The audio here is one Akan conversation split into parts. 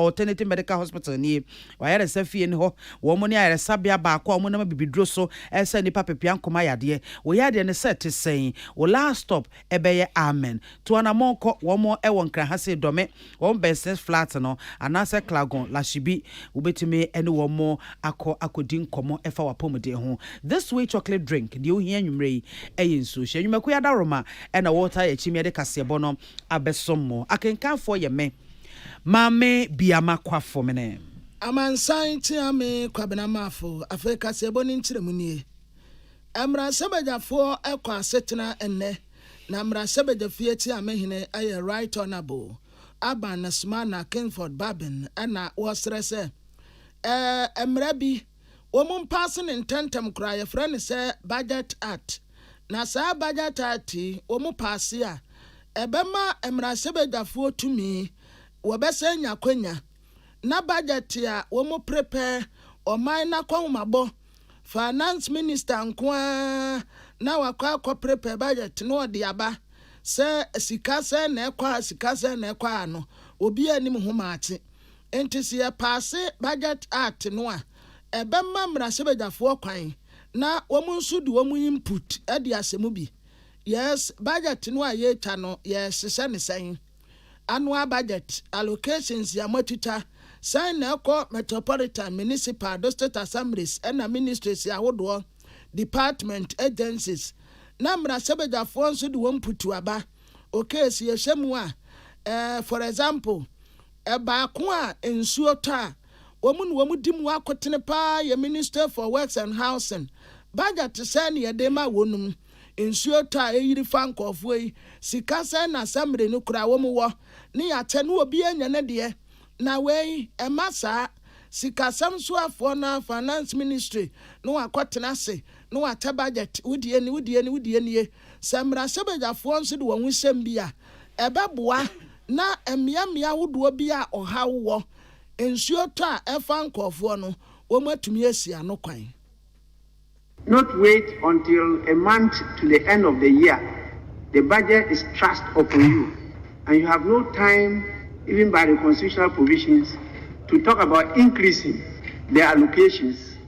Alternative Medical Hospital nie. W'ayaresa fie ne hɔ. Wɔn ne ayaresabea baako a wɔnam abibiduro so resa nnipa pepea nkoma yadeɛ. Wo yadeɛ no sɛ te sɛn? Wo last stop bɛyɛ Amen. Tu anammɔn kɔ. Wɔn wɔ Nkrahase, Dome, wɔn bɛn Smith Flat no, anaasɛ Klagon, Lashibi. Wobɛtumi ne wɔn akɔ akɔdi nkɔmmɔ fa w'apɔmuden ho. This way chocolate drink, deɛ wohia anwummerɛ yi yɛ nsuo. Hyɛ nnwumakuo yi adaworoma na wɔtaa yɛ akyimiade kaseɛbɔ no. abɛsom mo. Akenkanfoɔ yɛ me Maame Biama Kwafo Mene. Amansan Kyeame Kwabena Mafo Afei kaseɛbɔ no nkyerɛmu nie, Mmarahyɛbadwafoɔ kɔ asetena nnɛ na Mmarahyɛbadwafie Kyeame Hene yɛ Right Honourable Aban Asumana Kingford Babin na wɔsrɛ sɛ ɛɛ mmara bi, wɔmpaase no ntɛmntɛm koraa, yɛfrɛ no sɛ Budget Act. Na saa Budget Act yi, wɔpaase a, ɛbɛma mmarahyɛbadwafoɔ tumi, wɔbɛsan anya akwanya na budget a wɔprepɛ, ɔman no akɔnhomabɔ, Finance Minister nko ara na wakɔ akɔprepɛ budget na ɔde aba sɛ sika sɛn na ɛkɔ ha, sika sɛn na ɛkɔ ha no, obiara nnim ho maakye. Enti sɛ yɛpaase budget act no a, ɛbɛma mmarahyɛbadwafoɔ kwan na wɔn nso de wɔn input adi asɛm bi. Yes, budget no a yɛretwa no, yɛrehyehyɛ no sɛn? Annual budget, allocations a moatwitwa, sɛn na ɛkɔ metropolitan, municipal, district assemblies ɛna ministries ahodoɔ, department, agencies, na mmarahyɛbadwafoɔ nso de wɔn input aba. Okay so yɛhyɛ mu a eh for example ɛbaako a nsuo tɔ a wɔn na wɔn di mu akotene paa yɛ minister for works and housing budget sɛn na yɛde ma wɔn mu nsuo tɔ a ɛyiri fa nkɔɔfoɔ yi sika sɛn na assembly no kura wɔn wɔ ne yɛakyɛ na obiara nya ne deɛ na wei ɛma saa sikasɛm soafoɔ no a finance ministry na wakɔtena ase na wakyɛ budget wo deɛ ni wo deɛ ni wo deɛ nie. Sɛ mmarahyɛbadwafoɔ nso de wɔn ho hyɛm bi a, ɛbɛboa na mmeammea ahodoɔ bi a ɔhaw wɔ, nsuo tɔ a ɛfa nkorɔfoɔ no, wɔatumi asi ano kwan. Not wait until a month to the end of the year, the budget is thrust upon you and you have no time even by the constitutional provisions to talk about increasing the allocations.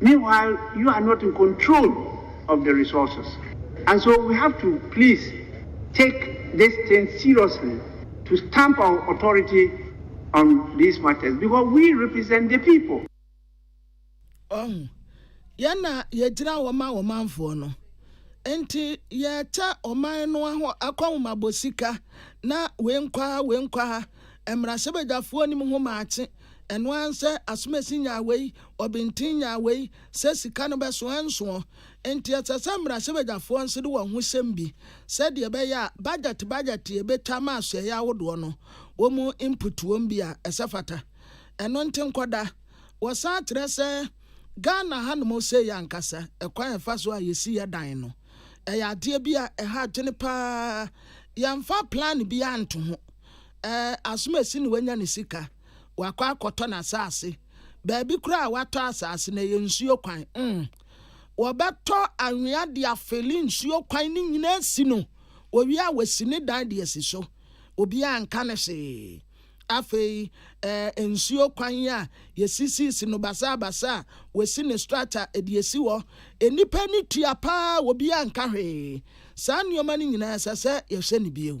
Meanwhile you are not in control of the resources and so we have to please take this thing seriously to stamp our authority on these matters because we represent the people. Wahu? Yɛn na yɛgyina hɔ ma ɔmanfoɔ no. Enti yɛrekyɛ ɔman no aho akɔnhomabɔ sika na wei nkɔ ha, wei nkɔ ha. Mmarahyɛbadwafoɔ nim ho maakye. Ɛno ara nsɛ asomasi nyaa wei, ɔbintin nyaa wei, sɛ sika no bɛso ɛnsoɔ. Nti ɛsɛ sɛ mmarahyɛbadwafoɔ nso de wɔn ho hyɛm bi sɛdeɛ ɛbɛyɛ a budget budget deɛ ɛbɛtwa ama asoɛeɛ ahodoɔ no wɔn input wɔm bi a ɛsɛ fata. Ɛno nti nkɔda. Wɔsan kyerɛ sɛ Ghana hanom sei ankasa ɛkwan a ɛfa so a yɛsi yɛ dan no ɛyɛ adeɛ bi a ɛha adwene pa ara. Yɛmfa plan biara nto ho. Eh, asomasi na wanya ne sika, wakɔ akɔtɔ n'asase. Baabi koraa a watɔ asase no, ɛyɛ nsuo kwan. Mm. Wɔbɛtɔ anwea de afeli nsuo kwan no nyinaa asi no. Wɔwie a, wɔasi ne dan de asi so. Obiara nka no hwee. Afei, eh, nsuo kwan a yɛsisiisi no basabasa a wɔasi ne structure de asi hɔ, nnipa ani tua paa, obiara nka hwee. Saa nneɛma no nyinaa, ɛsɛ sɛ yɛhwɛ no bio.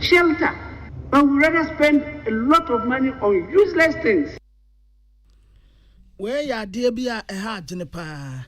shelter but we rather spend a lot of money on useless things. Wei yɛ adeɛ bi a ɛha adwene paa.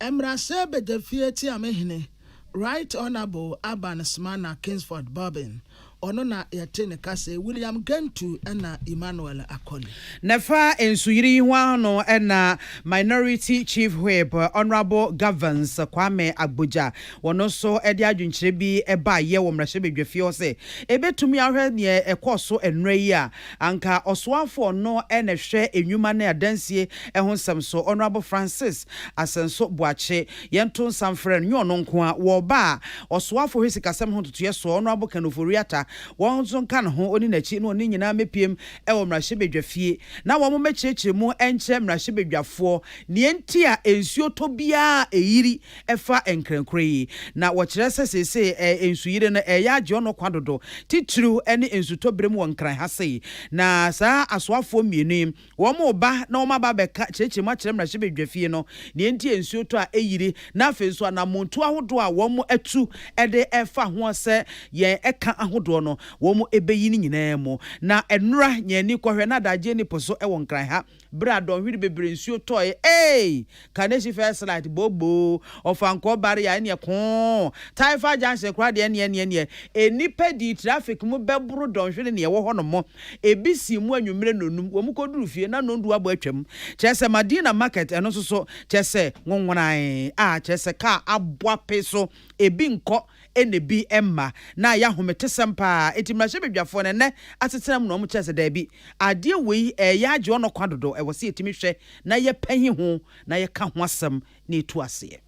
Mmarahyɛ Badwafie Kyeamehene Right Honourable Aban Smana Kingsford Bobbin, ɔno na yɛte ne kasa yi, William Gentu ɛna Emmanuel Akoli. Na ɛfa nsuyiri yi ho ara no na Minority Chief Whip Honourable Govans Kwame Agbodza, Wɔn nso de adwenkyerɛ bi baeɛ wɔ mmarahyɛbadwafie hɔ sɛ ɛbɛtumi ahwɛ deɛ ɛkɔɔ so ɛnnora yi a anka ɔsoafoɔ no na ɛhwɛ nnwuma ne adansie ho nsɛm so, Honourable Francis Asenso Boakye. Yɛnto nsa mfrɛ no, nyɛ ɔno nko ara, wɔ ɔba a ɔsoafoɔ hwɛ sikasɛm ho ntotoeɛ soɔ, Honourable Ken Ofori Atta, wɔn nso nka ne ho, ɔne n'akyi ne wɔn nyinaa mmɛpiem wɔ mmarahyɛbadwafie na wɔmmɛkyerɛkyerɛ mu nkyerɛ mmarahyɛbadwafoɔ deɛ nti a nsuo tɔ biara ɛyiri ɛfa nkrɛnkorɛ yi, na wɔkyerɛ sɛ seesei nsuyire no reyɛ agye ɔno kwa dodo, titiriw ne nsutɔbere mu wɔ Nkran ha sei. Na saa asoafoɔ mmienu yi, wɔreba na wɔaba abɛka kyerɛkyerɛ mu akyerɛ mmarahyɛbadwafie no nea enti a nsuo tɔ a ɛyiri, na afei nso anammɔntuo ahodoɔ a wɔatu de refa ho sɛ yɛn ɛka ahodoɔ no wɔbɛyi ne nyinaa mu. Na nnora, nyan ani kɔhwɛ, na adagyeɛ nni po so wɔ Nkran ha. Bere a dɔnhwere bebree nsuo tɔe eei, Kaneshie first light boo boo, Ɔfankɔɔ barrier ɛneɛ koo, Taifa junction koraa deɛ ɛneɛ ɛneɛ ɛneɛ, Nnipa dii traffic mu bɛboro dɔnhwere ne ɛwɔ hɔ nom, Ebi sii mu anwummere nnɔnum, wɔn kɔ duru fie na nnɔndu abɔ atwam, Kyerɛ sɛ Madina market ɛno nso so kyerɛ sɛ nwonwonaee, ah kyerɛ sɛ car abɔ ape so ebi nkɔ ɛna bi mma. Na ɛyɛ ahometesɛm paa. Enti mmarahyɛbadwafoɔ no ɛnnɛ asetena mu no wɔn kyerɛ sɛ daabi, adeɛ wei ɛreyɛ agye wɔn ɔkwa dodo, ɛwɔ sɛ yɛtumi hwɛ na yɛpahi ho na yɛka ho asɛm na yɛtu aseɛ.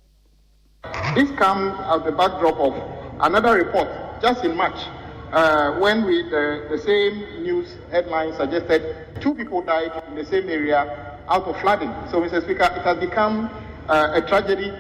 This comes as the backdrop of another report just in March when we the the same news headline suggested two people died in the same area out of flooding. So Mister Speaker, it has become a tragedy.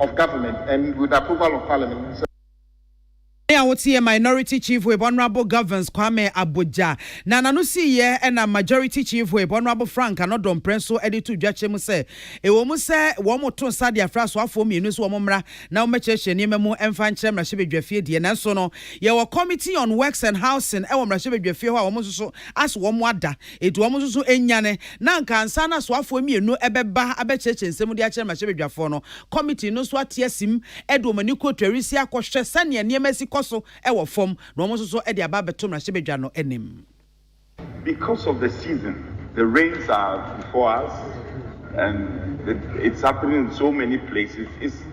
of government and with approval of parliament sɛ. Me a wote yɛ Minority Chief Whip Honourable Governse Kwame Abogya na n'ano sii yɛ ɛna Majority Chief Whip Honourable Frank Anɔdɔ Mprɛ so de too dwa kyerɛ mu sɛ ɛwɔ mu sɛ wɔn to nsa de afrɛ asoafoɔ mmienu sɛ wɔn mmra na wɔmmɛkyerɛkyerɛ nneɛma mu mfa nkyerɛ mmarahyɛbadwafie deɛ nanso no yɛwɔ Committee on Works and Housing wɔ mmarahyɛbadwafie hɔ a wɔn nso so as wɔn ada Enti wɔn nso so nyane, na anka ansa na asoafoɔ mmienu bɛba abɛkyerɛkyerɛ nsɛm mu de akyerɛ mmarahyɛbadwafoɔ no, kɔmiti no nso ate asim de wɔn ani kɔ Twerisi akɔhwɛ sɛdeɛ nneɛma si kɔ so wɔ fam, na wɔn nso so de aba abɛto mmarahyɛbadwa no anim. Because of the season, the rains are before us and it's happening in so many places, it's.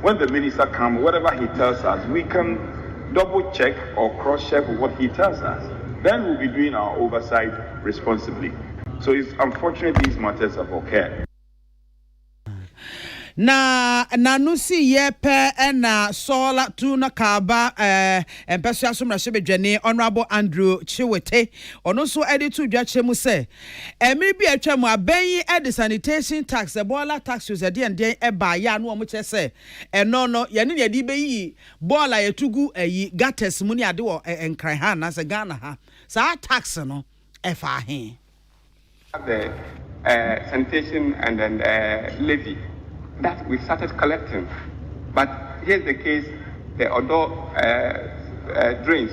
When the minister come whatever he tells us we can double check or cross check what he tells us then we will be doing our oversight responsibly so it's unfortunate these matters have occurred. Na nanu si yɛ pɛ ɛna sɔɔla tu na kaaba ɛɛ mpɛsoa so mmarahyɛbadwani Honourable Andrew Chiwete ɔno nso ɛde to dwa kyerɛ mu sɛ Mmere bi a atwa mu abɛn yi de sanitation tax, boiler taxes ɛdeɛn deɛn ɛbaa yɛ a na wɔn kyerɛ sɛ ɛno no yɛne na yɛde bɛyiyi boiler a yɛto gu ayi gutters mu ne ade wɔ Nkran ha anaasɛ Ghana ha. Saa tax no ɛfaa he? the sanitation and then the levy that we've started collecting but here's the case the Odo drains.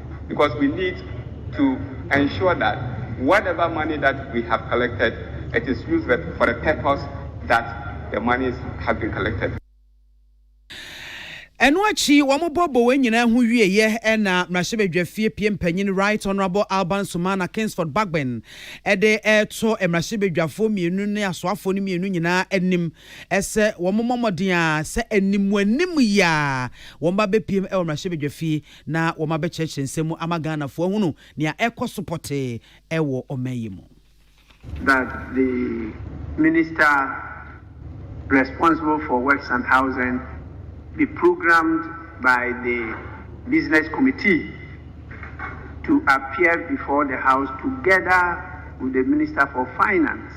because we need to ensure that whatever money that we have collected it is used for the purpose that the money has been collected. Ɛno akyi wɔbɔ boa nyinaa ho wieɛ na Mmarahyɛbadwafie pie mpanyin Right Honourable Alban Sumana Kingsford Bagbin de reto mmarahyɛbadwafoɔ mmienu ne asoafoɔ no mmienu nyinaa anim sɛ wɔmmɔ mmɔden ara sɛ animuanim yi ara wɔba bɛpiem wɔ mmarahyɛbadwafie na wɔma bɛkyerɛkyerɛ nsɛm mu ama Ghanafoɔ ahunu nea ɛrekɔ so pɔtee wɔ ɔman yi mu. that the minister responsible for works and housing be programmed by the business committee to appear before the house together with the minister for finance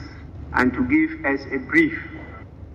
and to give us a brief.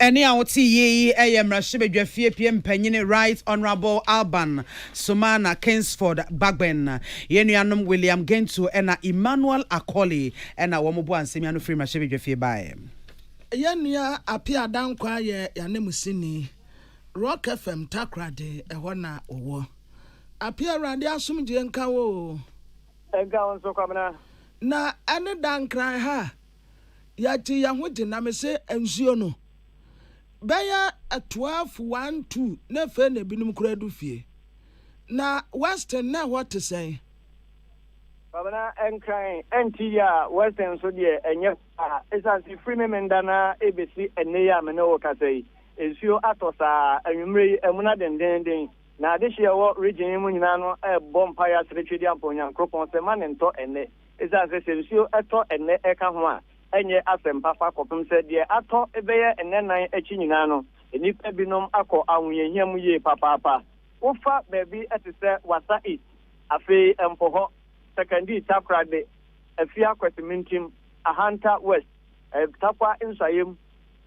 Ɛnne a wote yie yi yɛ mmarahyɛbadwafie pie mpanyin Right Honourable Alban Sumana Kingsford Bagbin, yɛn nuanom William Gentu na Emmanuel Akoli na wɔn boaa nsɛm yi ano firi mmarahyɛbadwafie baeɛ. Yɛn nua Appiah Dankwah yɛ yɛn ananmusini, Rock FM Takoradi, ɛhɔ na ɔwɔ. Appiah Awurade asomdwoeɛ nka wo oo. Ɛnka wo nso Kwabena. Na ɛne Dankran ha Yɛate yɛn ho gye na mese nsuo no bɛyɛ twelve one two na afei na ebinom koraa adu fie. Na Western na ɛhɔ te sɛn? Kwabena, Nkran ɛnte yie a, Western nso deɛ ɛnyɛ paa. Esiane sɛ ɛfiri me menda no ara ɛrebɛsi ɛnnɛ yi a me ne wo rekasa yi, nsuo atɔ saa. Anwummerɛ yi amuna dendeenden. Na adehyeɛ a ɛwɔ region yi mu nyinaa no rebɔ mpaeɛ aseretwe de ampɔ Onyankoropɔn sɛ mma no ntɔ ɛnnɛ. Esiane sɛ sɛ nsuo tɔ ɛnnɛ ɛka ho a, ɛnyɛ asɛm pa fa kɔpem sɛ deɛ atɔ bɛyɛ nnɛnan akyi nyinaa no, nnipa binom akɔ ahohiahia mu yie papaapa. Wofa baabi te sɛ Wassa East, afei Mpohɔ, Sekandee Takorade, Afia Kwasimintim, Ahanta West, Tarkwa Nsuayem,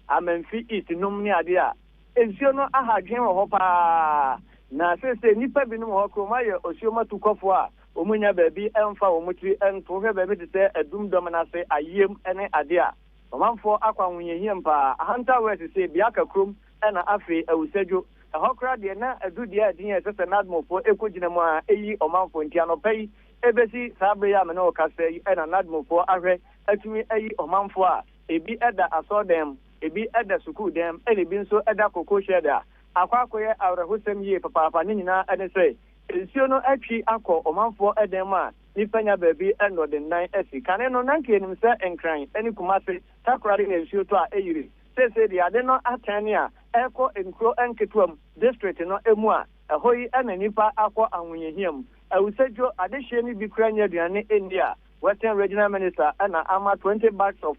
Amanfi East nom ne adeɛ a, nsuo no aha adwene wɔ hɔ pa ara. Na seesei nnipa binom wɔ hɔ koraa wɔayɛ osuom atukɔfoɔ a Wɔnnya baabi mfa wɔn tiri nto. Wohwɛ baabi te sɛ adum dɔm no ase, ayiem ne ade a, ɔmanfoɔ akɔ ahohiahiam paa. Ahantan wɔ asise, Biaka kurom na afei Awusadwo. Ɛhɔ koraa deɛ, na aduru deɛ a din a ɛsɛ sɛ Nadmofoɔ kɔgyina mu ara yi ɔmanfoɔ. Nti anɔpa yi bɛsi saa berɛ yi a me ne wo kasa yi na Nadmofoɔ ahwɛ atumi ayi ɔmanfoɔ a ebi da asɔrdan mu, ebi da sukuu dan mu ɛna ebi nso da cocoa shed a. Akɔ akɔyɛ awerɛhosɛm yie papaapa. Ne nyinaa ne sɛ, Nsuo no atwi akɔ ɔmanfoɔ dan mu a nnipa nya baabi nnɔdennan asi. Kane no, na nka yɛnim sɛ Nkran ne Kumase, Takoradi yɛ nsuo tɔ a ɛyiri. Seesei deɛ ade no atɛn ne a ɛrekɔ nkuro nketewa mu, district no mu a ɛhɔ yi na nnipa akɔ ahohiahia mu. Awusadwo, adehyeɛ no bi koraa nnya aduane nni a Western Regional Minister na ama 20 bags of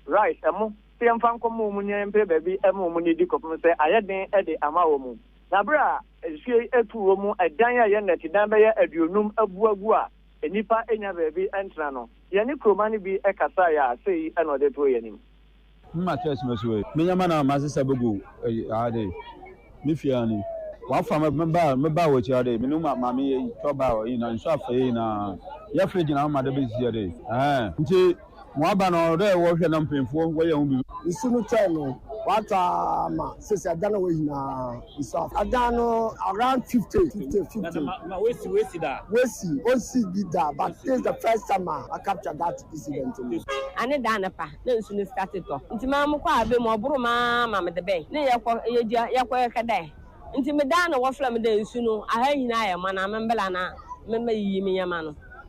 rice, ɛmo, sɛ yɛmfa nkɔma wɔn na yɛmpere baabi ma wɔn nnidi kɔpem sɛ ayɛ den de ama wɔn. Na bere a nsu yi atu wɔ mu dan a ɛyɛ nnɛtedan bɛyɛ aduonum abu agu a nnipa nnya baabi ntena no, yɛne kurowma no bi kasae a sei na ɔde too yɛn anim. Him a church no so ei. Me nyama na masesa begu ei aa dei me fie aa ni wa fa me me baa me baa w'akyi aa dei me ne ma maame ei tɔ baa ei na nsu afei ei na yɛ firi gyina ama da besi aa dei ɛɛn nti. Mo aba no ɔwɔ dɛ wɔhwɛ na mpanyimfo wɔyɛ ho biribi. Nsu no tɔe no, wɔatɔ ama sese adan a ɛwɔ hɔ nyinaa nsu afa. Adan no around fifty, fifty, fifty. Na na wɔasi wɔasi da? Wɔasi, wɔnsii bi da but this is the first time a wɔ capture that incident no. Ane da anɔpa na nsu no starte tɔ nti maa mokɔɔ abɛ mu, ɔboro mu ara ma mede bɛn ne yɛkɔ yɛdua yɛkɔ yɛkɛ dɛ nti medaa na wɔfrɛ me dɛ nsu no aha nyinaa ayɛ ma na memmra na memmɛyiyi me nyɛma no.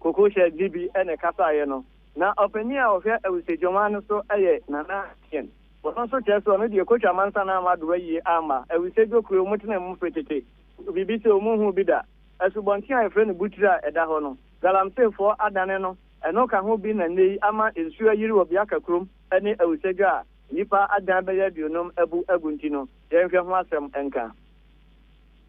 Kokohyɛ Dibi na ɛkasaeɛ no. Na ɔpanin a ɔhwɛ Awusiedwomma no so yɛ Nana Atien. Ɔno nso kyerɛ sɛ ɔno deɛ Kotwa amansa no amma doa yie amma Awusiedwo kuro a wɔtenaa mu firi tete no biribi sɛ wɔnhuu bi da. Asubɔnten a wɔfrɛ no Butire a ɛda hɔ no, Galamseyfoɔ adane no, ɛno ka ho bi na nnɛ yi ama nsuo ayiri wɔ Biaka kurom ne Awusiedwo a nnipa adan bɛyɛ aduonum abu agu nti no, yɛnhwɛ ho asɛm nka.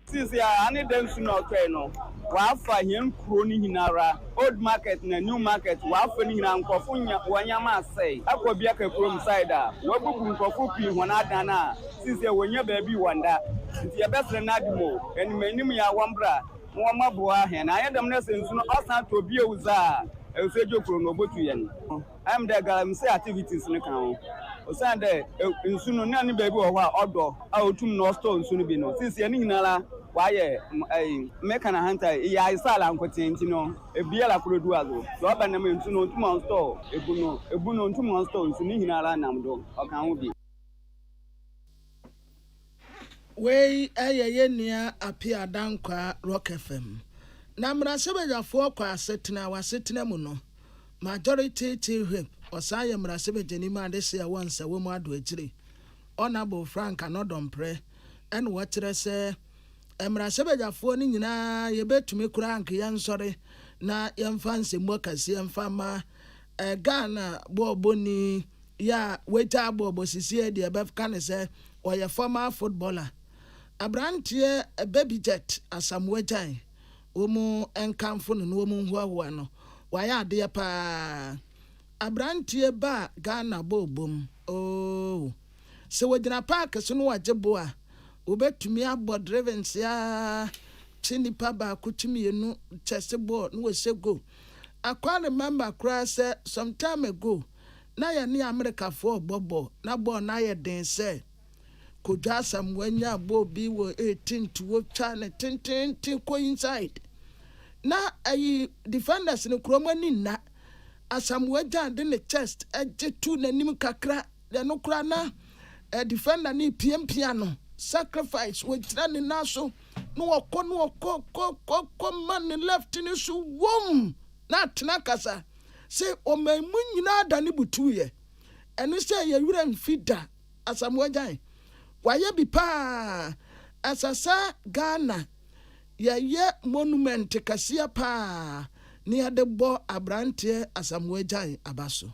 Seesei ara, aane dɛ nsu na ɔtɔe no, wɔafa hɛn kurow no nyinara, Old Market na New Market, wɔafa ne nyinara, nkorɔfo nya hɔn ndzɛmba asɛe. Akɔ Biaka kurom, Saida, woebubu nkorɔfo pii hɔn adan a seesei wonnya beebi wɔnda. Ntsi yɛbɛserɛ n'adom o, enyimenyim yi a wɔmbra na wɔmbɔboa hɛn, annyɛ dɛm na sɛ nsu no ɔsan tɔ bio dze a, ewusoegye kurow no obotu hɛn. Ayɛ me dɛ galamsey activities no kã ho, osiandɛ nsu no nna ne beebi wɔ hɔ a ɔdɔ a otum na ɔstore nsu no bi no, sesei ne nyinara ɔayɛ meka no ahantan, iyi ayɛ sɛ alankotsee ntsi no, biara kor du adze o, dza ɔba nam nsu no onntum ɔnnstore ebu no, ebu no onntum ɔnnstore nsu, ne nyinara nam do, ɔkã ho bi. Wei yɛ yɛn nua Appiah Dankwah, Rock FM. Na mmarahyɛbadwafoɔ kɔ asetena, wɔ asetena mu no, Majority Chief Whip, ɔsan yɛ mmarahyɛbadwani ma adehyeɛ wɔ Nsawam Addo akyiri, Honourable Frank Anodɔmprɛ, ɛna wɔkyerɛ sɛ mmarahyɛbadwafoɔ no nyinaa yɛbɛtumi koraa nka yɛnsɔre na yɛmfa nsɛmmu akɛseɛ mfa mma Ghana bɔɔlbɔni yi a wagyae bɔɔlbɔ seesei deɛ yɛbɛka no sɛ ɔyɛ former footballer, aberanteɛ Babyjet Asamoah Gyan, wɔn nkamfo no na wɔn hoahoa no. Wayɛ adeɛ pa ara. Aberanteɛ ba a Ghana bɔɔlbɔ mu, ooh. Sɛ wɔgyina park so na wɔgye bo a, wɔbɛtumi abɔ drivens ara kye nipa baako kye mmienu kyɛ se bɔɔl na wɔhyɛ goal. I quite remember koraa sɛ some time ago na yɛne Amerikafoɔ rebɔ bɔɔl na bɔɔl no ayɛ den sɛ Kojo Asamoah nyaa bɔɔl bi wɔ 18 to ɔtwa no tenteenten kɔ inside na ayi defenders no koraa wɔn ani nna Asamoah gyaa de ne chest gye too n'anim kakra deɛ no koraa na defender no repiapia no sacrifice ɔgyina ne nan so na ɔkɔ na ɔkɔ kɔ kɔ kɔ ma ne left no so wom na atena ankasa sɛ ɔman mu nyinaa da ne butuuyɛ ɛno sɛ ɛyɛ werɛ mfi da Asamoah Gyan wayɛ bi paa ɛsɛsɛ Ghana yɛyɛ monument kɛseɛ paa na yɛde bɔ abranteɛ Asamoah Gyan aba so.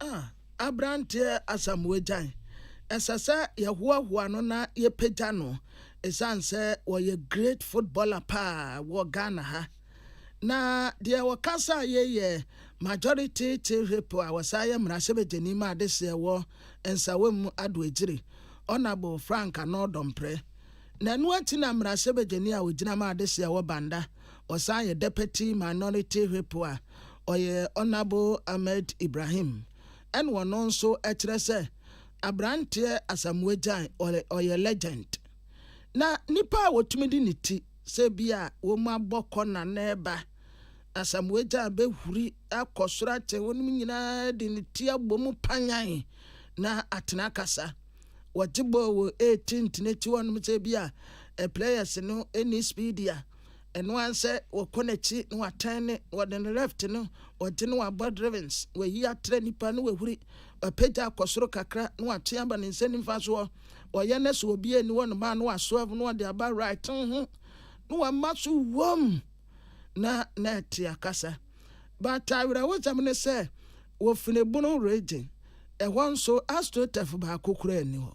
A Aberanteɛ Asamoah Gyan, Ɛsɛ sɛ yɛhoahoa no na yɛpagya no ɛsiane sɛ ɔyɛ great footballer paa wɔ Ghana ha. Na deɛ wɔka sɛ a yei yɛ majority chief whip a ɔsan yɛ mmarahyɛbadwani ma adehyeɛ wɔ Nsawam Ado Agyiri, Honourable Frank Anor Dompreh. Na ɛno akyi na mmarahyɛbadwani a ɔgyina ma adehyeɛ wɔ Banda, Ɔsan yɛ Deputy Minority Whip a ɔyɛ Honourable Ahmed Ibrahim ɛna ɔno nso ɛkyerɛ sɛ abranteɛ Asamoah Gyan ɔyɛ legend na nipa a wɔtumi de ne ti sɛ bi a wɔn abɔ kɔ na na ɛba Asamoah Gyan bɛhuri akɔ soro akyɛ wɔnom nyinaa de ne ti abɔ mu panyan na atena akasa wɔgye bɔɔl wɔ 18th no akyi hɔnom sɛ bi a players no ɛni speed a Ɛno ara sɛ wɔkɔ n'akyi na wɔatɛn ne, wɔde no left no, wɔgye no wɔabɔ drivens, wɔayi atrɛ nnipa na wɔahuri, wɔapagya akɔ soro kakra na wɔatwe aba ne nsa nifa so hɔ, wɔyɛ no sɛ obiara nni hɔ no ma na wɔaswerve na wɔde aba right ho na wɔama so wom na na ɛte akasa. But awerɛhosɛm ne sɛ wɔ Finebono region ɛhɔ nso astroturf baako koraa nni hɔ.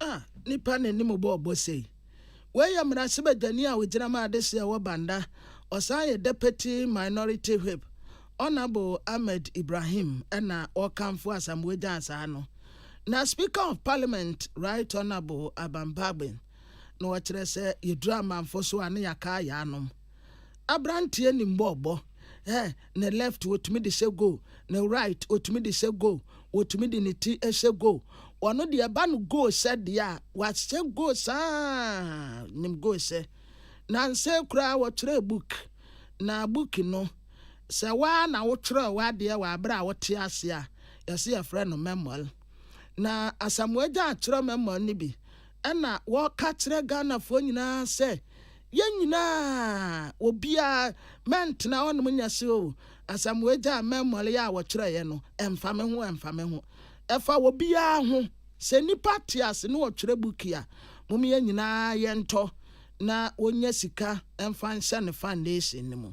Ah, nipa na anim bɔ ɔbɔ sei. Wei yɛ mmarahyɛbadwani a ɔgyina ma adehyeɛ wɔ Banda, ɔsan yɛ Deputy Minority Whip, Honourable Ahmed Ibrahim na ɔrekamfo Asamoah Gyan saa no. Na Speaker of Parliament Right Honourable Aban Bagbin na ɔkyerɛ sɛ yɛduru amanfo so a ne yɛaka ayɛ anom. Aberanteɛ nim bɔ ɔbɔ. Eh, ne left wɔtumi de hyɛ goal, ne right wɔtumi de hyɛ goal, wɔtumi de ne ti hyɛ goal. Ɔno deɛ ɛba no goal hyɛ deɛ a wahyɛ goal saa nim goal hyɛ. Nansa koraa wɔtwerɛɛ book na book no sɛ waa na wotwerɛ w'adeɛ wɔ aberɛ a wote ase a yɛse yɛfrɛ no memoir. Na Asamoah Gyan atwerɛ memoir no bi Ɛna wɔka kyerɛ Ghanafoɔ nyinaa sɛ yɛn nyinaa obiara mɛntena hɔnom nyɛ se o Asamoah gyaa mɛmmɔre a wɔtwerɛeɛ no ɛmfa me ho ɛmfa me ho ɛfa obiara ho sɛ nnipa te ase ne ɔtwerɛ buki a mom yɛn nyinaa yɛntɔ na wɔnya sika mfa nhyɛ ne foundation no mu.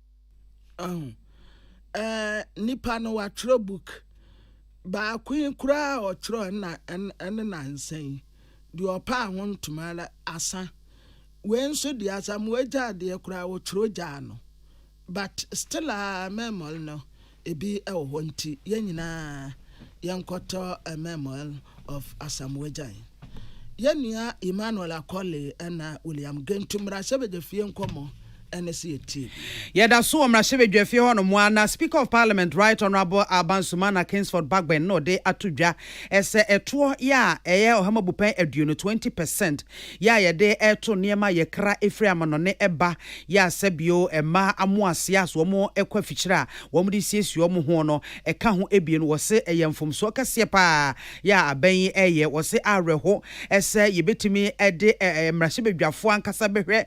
Ahu. Ɛɛ nipa no watwerɛ book. Baako yi koraa a ɔtwerɛ ɛna ɛne nansa yi. Deɛ ɔpɛ a ho ntoma ara asa. Wei nso deɛ asamoa gyaa deɛ koraa ɔtwerɛ gyaa no. But still a memory no. Ebi wɔ hɔ nti yɛn nyinaa yɛnkɔtɔ Memoir of Asamoah Gyan. Yɛn nua Emmanuel Akoli ɛna William Gentu mmarahyɛbadwafie nkɔmmɔ ɛne sɛ yɛtie bi. Yɛda so wɔ mmarahyɛbadwafie hɔ nom ara na Speaker of Parliament Right Honourable Alban Sumana Kingsford Bagbin na ɔde ato dwa sɛ ɛtoɔ yɛ a ɛyɛ Ɔhamu Abupɛn Aduonu, 20 percent, Yɛ a yɛde reto nneɛma a yɛkra firi amannɔne ba, yɛ a sɛ bio mmaa amoaseɛ a wɔn kɔ afikyire a wɔde siesie wɔn ho no ka ho abien. Wɔ se ɛyɛ mfomsoɔ kɛseɛ pa ara yɛ a aban yi reyɛ. Wɔ se awerɛho sɛ yɛbɛtumi de mmarahyɛbadwafoɔ ankasa bɛhwɛ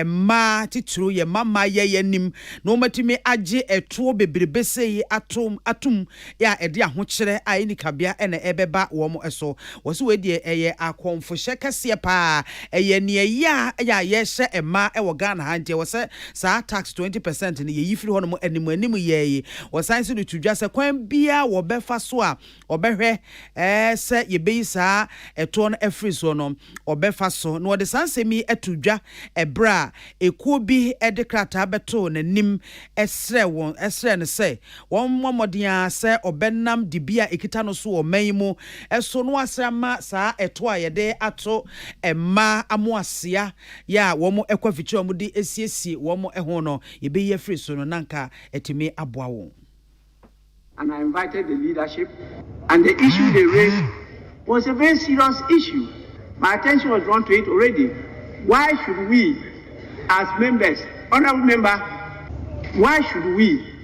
mmaa titiriw, yɛn mmammaayɛ yi anim na wɔatumi agye toɔ bebrebe sei atom atom. a ɛde ahokyerɛ a ɛnni kabea na ɛbɛba wɔn so. Wɔse wei deɛ ɛyɛ akɔmfohyɛ kɛseɛ paa. Ɛyɛ neɛ ɛyɛ a ɛyɛ a yɛhyɛ mmaa wɔ Ghana ha nti ɛwɔ sɛ saa tax twenty percent no yɛyi firi hɔnom anim anim yɛɛye. Wɔsan nso de to dwa sɛ kwan biara wɔbɛfa so a wɔbɛhwɛ sɛ yɛbɛyi saa ɛtoɔ no afiri soɔ no wɔbɛfa so. Na wɔde saa nsɛm yi to dwa ɛberɛ a ɛkuo bi de krataa bɛtoo n'anim srɛɛ wɔn srɛɛ no sɛ Wɔmmɔ mmɔden ara sɛ wɔbɛnam dibea a ekita no so wɔ ɔman yi mu so no ase ama saa ɛtoɔ a yɛde ato mmaa amoasea yɛ a wɔkɔ afikyiri a wɔde siesie wɔn ho no, yɛbɛyi afiri so no, na anka atumi aboa wɔn. And I invited the leadership and the issue they raised was a very serious issue, my attention was drawn to it already, why should we as members, honourable member, why should we.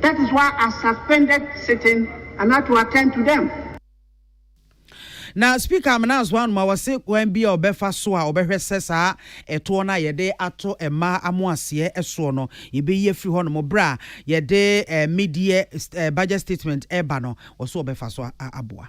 That is why I suspended sitting and had to attend to them. Na Speaker Amenanso Anoma wɔse kwan bi a ɔbɛfa so a ɔbɛhwɛ sɛ saa ɛtoɔ no a yɛde ato mmaa amoaseɛ soɔ no yɛbɛyi afiri hɔ nom berɛ a yɛde mid-year budget statement ɛreba no, wɔse wɔbɛfa so aboa.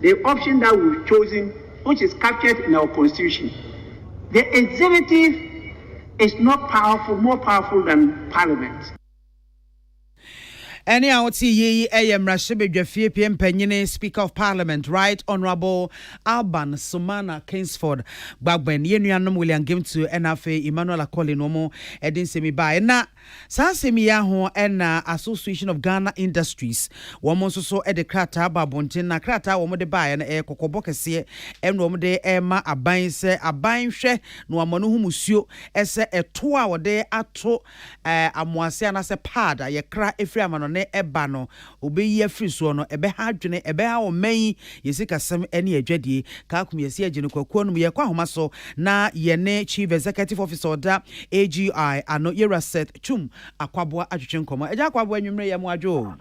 The option that we've chosen, which is captured in our constitution, the executive is not powerful, more powerful than parliament. Ɛne a wote yi yɛ mmarahyɛbadwafie pie mpanyini, Speaker of Parliament, Right Honourable Alban Sumana Kingsford Gbagben, yɛn nuanom William Gimtu ɛna afei Emmanuel Akoli na wɔn de nsɛm yi baeɛ. Na. Saa nsɛm yi ara ho na Association of Ghana Industries, wɔn nso so de krataa bɔ abɔnten, na krataa a wɔde baeɛ no, ɛyɛ kɔkɔbɔ kɛseɛ, ɛna wɔde rema aban sɛ aban nhwɛ na wɔama no ho musuo sɛ ɛtoɔ a wɔde ato amoase anaasɛ pad a yɛkra firi amanɔne ba no, obeyi afiri soɔ no, ɛbɛha adwene, ɛbɛha ɔman yi, yɛn sikasɛm ne yɛn adwadie. Kaakum yɛse yɛgye no kwakuo nom, yɛrekɔ ahoma so na yɛne Chief Executive Officer ɔda AGI ano, Yɛwura Seth Twum Akwaboa atwetwe nkɔmmɔ. Agya Akwaboa, anwumerɛ yi ɛmo adwo o.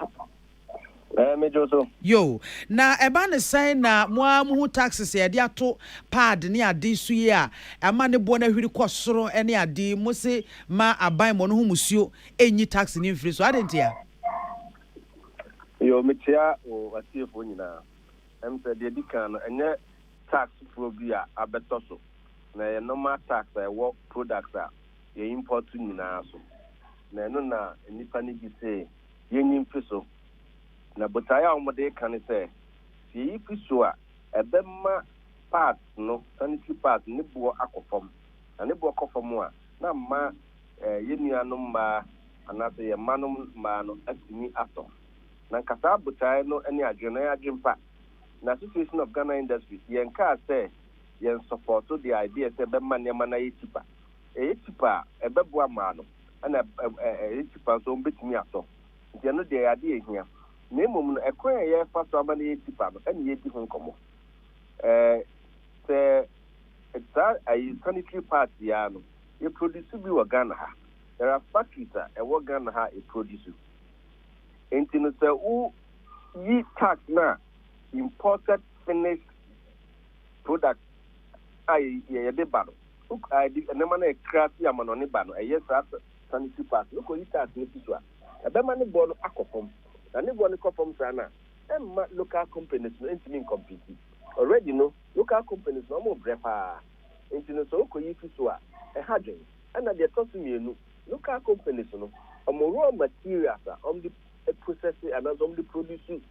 Ɛɛ, medwo so. Yoo, na ɛba ne sɛn na mo ara mo hu taxes a yɛde ato paad ne ade so yi a ama ne boɔ no ahwiri kɔ soro ne ade yi, mose ma abanmɔ no ho musuo nyi tax no mfiri so, adɛn ntia? Yoo, mekyea wo atiefoɔ nyinaa. Ɛm sɛ deɛ ɛdi kan no, ɛnyɛ tax foforɔ bi a abɛtɔ so, na ɛyɛ normal tax a ɛwɔ products a yɛ import nyinaa so, na ɛno na nnipa no gye se yɛnyi mfi so. Na botaeɛ a wɔde reka ne sɛ, sɛ yɛyi fi so a, ɛbɛma parts no, sanitary parts no, ne boɔ akɔ fam, na ne boɔ kɔ fam a, na mma yɛn nuanom mmaa anaasɛ yɛn mmanom mmaa no atumi atɔ. Na nkasaa botae no ne adwene no ɛyɛ adwempa. Na Association of Ghana Industries yɛn kaa sɛ yɛn sɔpɔto the idea sɛ ɛbɛma nneɛma no ayɛ cheaper. Ɛyɛ cheaper a ɛbɛboa mmaa no ɛna ɛyɛ cheaper nso a wɔbɛtumi atɔ. Nti ɛno deɛ ɛyɛ adeɛ a ɛhia. Na mmom no ɛkwan a yɛfa so ama no ayɛ cheaper no ɛna yɛredi ho nkɔmmɔ. Ɛɛ sɛ saa ayi sanitary part yi ara no. Yɛ produce bi wɔ Ghana ha. There are factories a ɛwɔ Ghana ha a e produce. Enti no sɛ wo yi tax no a imported finished product a yɛ yɛ de ba no, wo a yɛ de nneɛma no a ɛkra fi amanɔne ba no, ɛyɛ saa sanitary pads no, wo kɔ yi tax no fi so a, ɛbɛma ne boɔ no akɔ fam. Na ne boɔ no kɔ fam saa no a, ɛmma local companies no ntumi ncompete. Already no, local companies no wɔn rebrɛ paa. Enti no sɛ okoyi fi so a, ɛha dwen. Ɛna deɛ ɛtɔ so mmienu, local companies no, wɔn raw materials a wɔde processe anaasɛ wɔde produce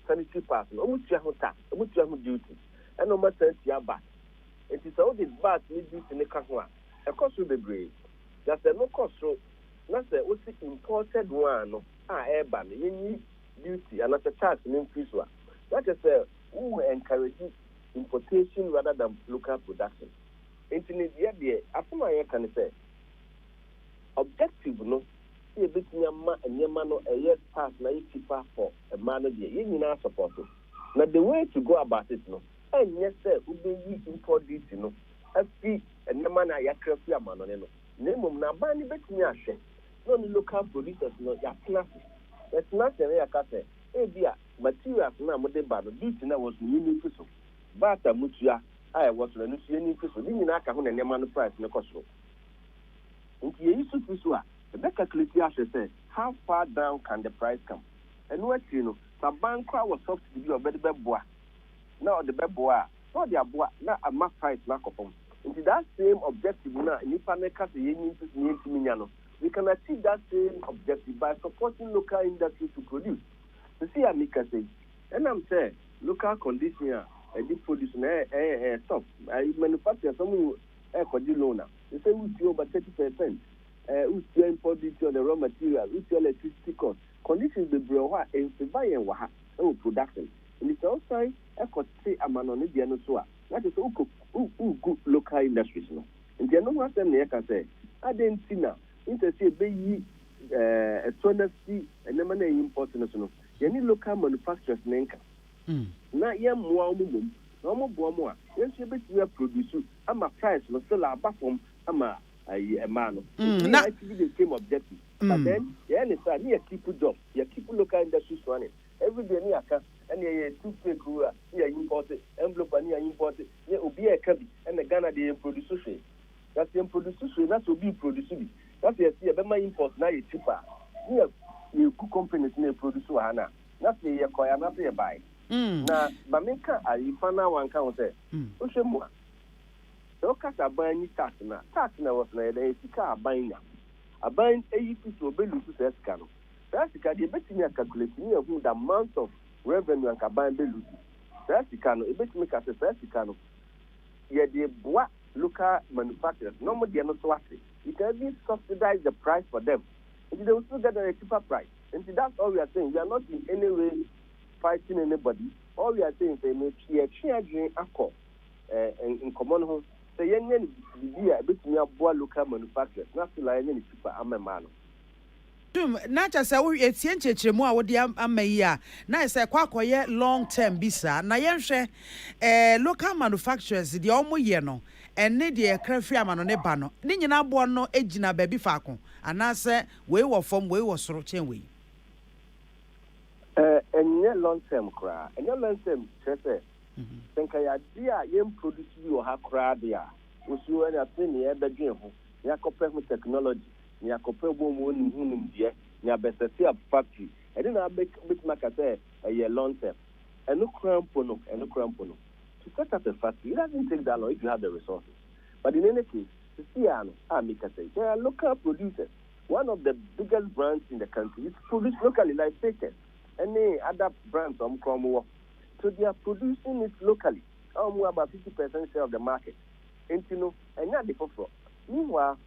sanitary pads no, wɔtua ho tax, wɔtua ho duty, ɛna wɔasan atua vat. Enti sɛ wode vat ne duty no ka ho a, ɛkɔ soro bebree. Na sɛ ɛno kɔ soro na sɛ wose imported one no a ɛreba no, yɛnyi duty anaasɛ tax no mfiri so a, na kyerɛ sɛ wo encourage importation rather than local production. Enti ne deɛ deɛ asɛm a yɛka ne sɛ objective no sɛ yɛbɛtumi ama nneɛma no ɛyɛ sparse na ayɛ cheaper for mmaa no deɛ yɛn nyinaa supporto. Na the way to go about it no ɛnyɛ sɛ wobɛyi import duty no afi nneɛma no a yɛakra firi amanɔne no na mmom no aban no bɛtumi ahwɛ na ɔne local producers no yɛatena ase. Yɛtena ase na yɛaka sɛ ebia. Materials no a mode ba no, duty no a ɛwɔ so no, yenni mfe so. Vat a mutua a ɛwɔ so no, ɛno nso yenni mfe so. Ne nyinaa ka ho na nneɛma no price no kɔ soro. Enti yeyi so fi so a, yɛbɛ calculate ahwɛ sɛ how far down can the price come. Ɛno akyiri no, sɛ aban koraa wɔ subsidy bi a ɔbɛde bɛboa na ɔde bɛboa a, na ɔde aboa na ama price no akɔ fam. Enti that same objective no a nnipa no reka sɛ yenyi mfe so na yentumi nnya no, we can achieve that same objective by supporting local industries to produce. Sesei a mekasa yi, ɛnam sɛ local condition a ɛde produce no ɛyɛ tough, manufacturers ɔmo ɛɛkɔgye loan a, sesei wotua over thirty percent, wotua import duty on the raw materials, wotua electricity cost, conditions bebree wɔ hɔ a ɛnfavour yɛn wɔ ha wɔ production. Nti sɛ wosan kɔte amanɔne deɛ no so a, na kyerɛ sɛ wokɔ, wogu local industries no. Nti ɛno ho asɛm na yɛka sɛ adɛn nti na. Instead sɛ yɛbɛyi ɛtorɔ no afi nneɛma no a yɛimpɔɔte no so no, yɛne local manufacturers no nka na yɛmmoa wɔn mmom. Na wɔboa wɔn a, yɛn nso yɛbɛtumi aprodusu ama price no still aba fam ama mmaa no. Nti na ITV de came objective. But then yɛyɛ no saa a, na yɛ keep job, yɛ keep local industries running. Everyday na yɛaka, ɛnna yɛyɛ toothpick o a, na yɛimpɔɔte, envelope a na yɛimpɔɔte, na obiara reka bi, ɛnna Ghana deɛ yɛmprodusu hwee. Na sɛ yɛmproduce hwee na sɛ obi reproduce bi na sɛ yɛse yɛbɛma import no ayɛ cheaper a, ne yɛ yɛgu companies no a ɛproduce wɔ ha no a, na sɛ yɛkɔe anaasɛ yɛbae. Na ma menka ayi fa no a wanka ho sɛ, wohwɛ mu a, sɛ woka sɛ aban nyi tax no a, tax no a ɛwɔ so no ɛyɛ dɛn? Ɛyɛ sika a aban nya. Aban ayi fi so, ɔbɛ lose saa sika no. Saa sika deɛ yɛbɛtumi a calculate ne yɛahu the amount of revenue anka aban bɛ lose. Saa sika no, yɛbɛtumi ka sɛ saa sika no, Yɛde boa local manufacturers na wɔn deɛ no so ate. We can even subsidize the price for them nti they will still get at a cheaper price nti that's all we are saying we are not in any way fighting anybody all we are saying sɛ me yɛtwe adwene akɔ eh, nkɔmɔ no ho sɛ yɛnyɛ no biribi a ɛbɛtumi aboa local manufacturers na still a yɛnyɛ no cheaper ama mmaa no. Tom, na kyerɛ sɛ wo yɛtie nkyerɛkyerɛmu a wode ama yi a, na ayɛ sɛ ɛkɔ akɔyɛ long term bi saa. Na yɛnhwɛ eh, local manufacturers deɛ wɔn yɛ no ɛne deɛ yɛkra firi amanɔne ba no, ne nyinaa boɔ no gyina baabi faako anaasɛ wei wɔ fam, wei wɔ soro kyɛn wei? Eh, ɛnyɛ long term koraa. Ɛnyɛ long term kyerɛ sɛ, mhm. sɛ nka yɛ adeɛ a yɛn produce bi wɔ ha koraa deɛ a, wosuo ɛne afei ne yɛbɛdwen ho, ne yɛakɔpɛ ho technology, Nea kɔpɛ bɔ mu onim ho nimdeɛ, nea bɛsɛseap factory, ɛde na abɛ bɛtumi aka sɛ ɛyɛ long term. Ɛno koraa mpo no, ɛno koraa mpo no, to set up a factory, it doesn't take that long if you have the resources. But in any case, sesei ara no a mekasa yi, there are local producers, one of the biggest brands in the country which produce locally like Fakers ɛne other brands a wɔn koraa wɔn wɔ, so they are producing it locally a wɔn wɔ about fifty percent share of the market. Enti no, ɛnyɛ ade foforɔ. Meanwhile,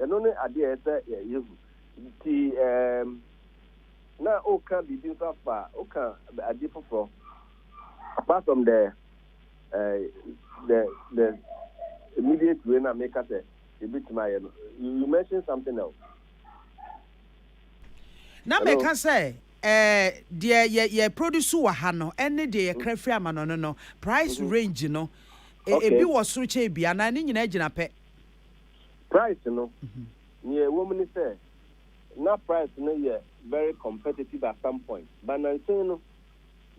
Ɛno ne ade a ɛsɛ sɛ yehu. Enti ɛɛm, na woka biribi nso afa, woka ade foforɔ, apart from the eh, the the immediate way na meka sɛ yɛbɛtumi ayɛ no, you you mention something else. Na Hello? meka sɛ eh, deɛ yɛ yɛ produce wɔ ha no ɛne deɛ Mm, yɛkra firi amanɔne no price mhm. range no e- Okay. ebi wɔ soro kyɛ ebi anaa ne nyinaa gyina pɛ. Price no, nea ɛwom ne sɛ na price no yɛ very competitive at some point, but nansen no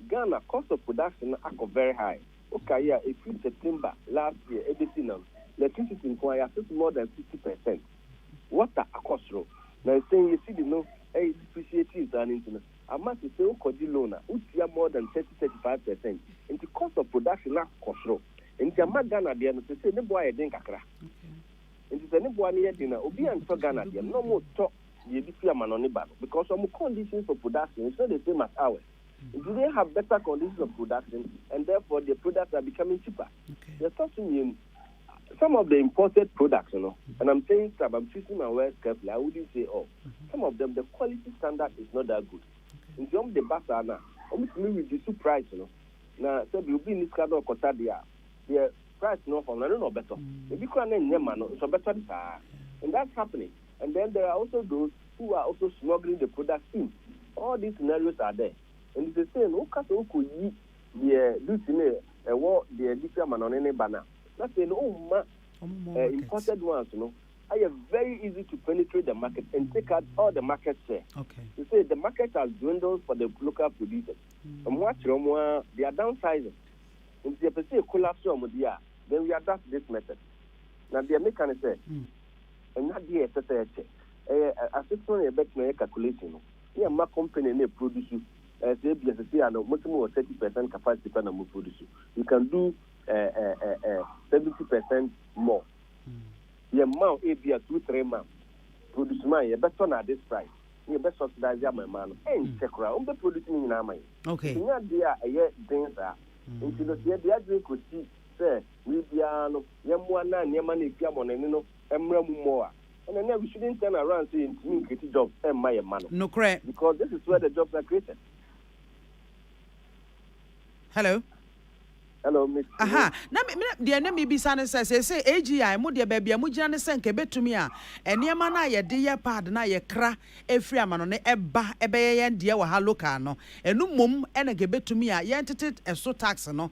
Ghana cost of production no akɔ very high. Wokae a, ɛfiri September last year ɛbɛsi nnɛ no, electricity nko ara, yɛasese more than 50 per cent. Water akɔ soro. Nansen yɛ cedi no depreciating saa no nti no, Ama sesɛ wo kɔgye loan a wo tua more than thirty, thirty five percent nti cost of production no akɔ soro nti ama Ghana deɛ no sesɛ ne bo ayɛ den kakra nti sɛ ne boa no yɛ den a obi antɔ Ghana deɛ no na ɔmo tɔ deɛ ebi fi amanɔne ba no because ɔmo conditions for production is not the same as ours nti they have better conditions of production and therefore their products are becoming cheaper. Yɛtɔ so mmienu. Some of the imported products no and I'm saying some, I'm choosing my words carefully, I wouldn't say all, some of them the quality standard is not that good nti wɔn de ba saa no a wɔn tumi reduce price no na sɛbi obi nni sika na ɔkɔta deɛ a deɛ price no ɔfam no ɛno na ɔbɛtɔ, ebi koraa na ɛnyɛ ma no nso ɔbɛtɔ de saa ara and that's happening and then there are also those who are also smuggling the products in, all these scenarios are there nti sesei no woka sɛ wokɔyi. Deɛ dusi no ɛwɔ deɛ dusi amanɔne no ba no a, na afei no ɔmma imported ones no ayɛ very easy to penetrate the market and take out all the market share. Sesei the market has dwindled for the local producers. Ɔmo akyere ɔmo ara, they are downsizing. Nti yɛpɛ sɛ yɛ collapse ɔmo deɛ a, then we adopt this method. Na deɛ meka ne sɛ, ɛnyɛ adeɛ a ɛsɛ sɛ yɛkyɛ. Ɛyɛ asetena na yɛbɛtena yɛ calculation no. Yɛ mma company no produce eh, sɛ ebia sɛsɛ a no mosi mo wɔ 30 percent capacity pɛ na mo produce. You can do eh, eh, eh, eh, 70 percent more. Yɛ mma o ebia two three months produce ma yɛ bɛtɔ na this price na yɛ bɛ subsidize ama mma no ɛnkyɛ koraa wɔn bɛ produce ne nyinaa ama yɛ. Okay. Nya deɛ a ɛyɛ den saa. Nti no sɛ yɛde adwene kɔsi sɛ wei biara no yɛmmoa na nneɛma no ɛfi amɔnani no mmra mu mmɔ a Ɛna na we shouldn't turn around sɛ yɛntumi nkreati jobs mma yɛn mma no. Nokorɛ. Because this is where the jobs are created. Hello. Hello Miss Kunu. Aha, na me, me, deɛ na mebisa ne sɛ, seesei AGI, mo deɛ baabi a mogyina ne sɛ nka ɛbɛtumi a, nneɛma no a yɛde yɛ pad no a yɛkra firi amanɔne ɛba ɛbɛyɛ yɛn deɛ wɔ ha local no, ɛno mmom na nka ɛbɛtumi a, yɛntete ɛso tax no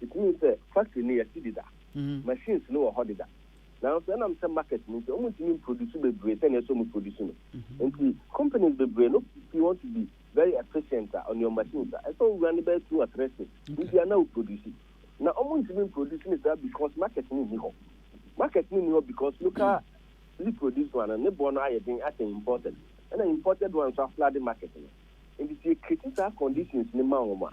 Mihuu sɛ factory no yɛasi deda, machines no wɔ hɔ deda, nanso ɛnam sɛ market no nti wɔntumi mproduce bebree sɛnea ɛsɛ sɛ wɔproduce no nti, companies bebree no pii want to be very efficient a, on your machines a, ɛsɛ sɛ wowura no bɛyɛ two or three six week biara na woproduce. Na wɔntumi mproduce no saa because market no nni hɔ. Market no nni hɔ because local li produced one no, ne boɔ no ayɛ den akyɛn imported, ɛna imported one nso afloode market no. Nti sɛ yɛcreate saa conditions no ma wɔn a,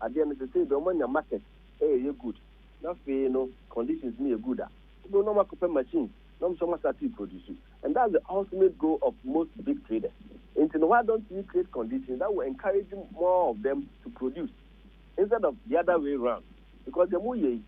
adeɛ no sesei deɛ ɔmo anya market ɛyɛ good na afei no conditions no yɛ good a wobɛhu na ɔmo akɔpɛ machines na ɔmo nso ɔmo asate re produce and that's the ultimate goal of most big traders nti no why don't we create conditions that will encourage more of them to produce instead of the other way round because deɛ mo yɛ yi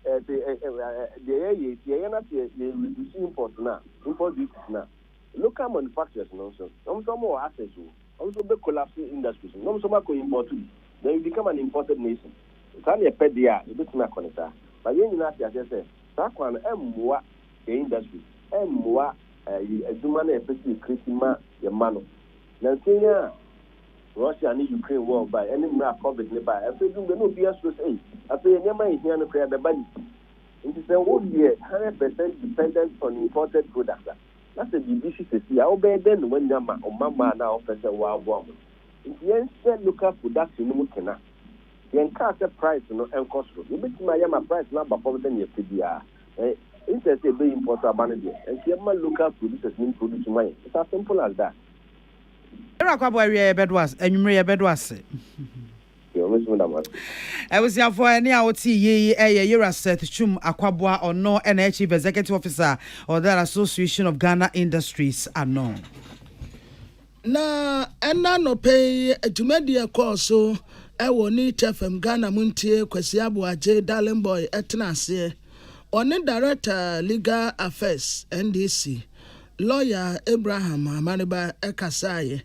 eh, se, eh, eh, eh, eh, deɛ yɛyɛ yi sɛ yɛyɛ na sɛ yɛ reduce import no a import duties no a local manufacturers no nso ɔmo nso ɔmo wɔ access o. Ɔmo nso bɛ collapse industries no na ɔmo nso ɔmo akɔ import bi then we become an imported nation. Sɛ saa na yɛpɛ deɛ a yɛbɛtumi akɔ no saa but yɛn nyinaa te aseɛ sɛ saa kwan no ɛmmoa yɛn industries, ɛmmoa ɛyi adwuma no a yɛpɛ sɛ yɛ create ma yɛn mma no. Nansa yi a Russia ne Ukraine war bae ɛne mmerɛ a covid no bae afei ɛduru baabi na obiara suro sɛ ei afei nneɛma a yɛhia no koraa ɛbɛba ne ti. Nti sɛ wo yɛ hundred percent dependent on imported products a, Na sɛ biribi si sɛsi a wobɛyɛ dɛn na woanya ma wo mma mmaa no a wopɛ sɛ woaboa wɔn? Nti yɛnhyɛ local production no mu kena. Yɛnkaa sɛ price no nkɔ soro. Yɛbɛtumi ayɛ ama price no aba fam sɛnea yɛpɛ biara. Ɛ, instead sɛ yɛbɛ import aba no deɛ, ɛnka yɛmma local producers no mproduce mma yɛn. It's as simple as that. Ewura Kwaboo awiɛ yɛbɛdo ase, anwumerɛ yɛbɛdo ase. Abusuafoɔ, ɛne a wote yie yi yɛ Yera Seth Twum Akwaboa, ɔno na yɛ Chief Executive Officer of the Association of Ghana Industries ano. Na ɛna nɔpɛ yi dwumadie ɛkɔɔ so ɛwɔ Neat FM Ghana mu ntie Kwasi Aboagye Darling Boy ɛtena aseɛ. Ɔne Director Legal Affairs NDC, Lawyer Abraham Amaneba ɛkasaeɛ.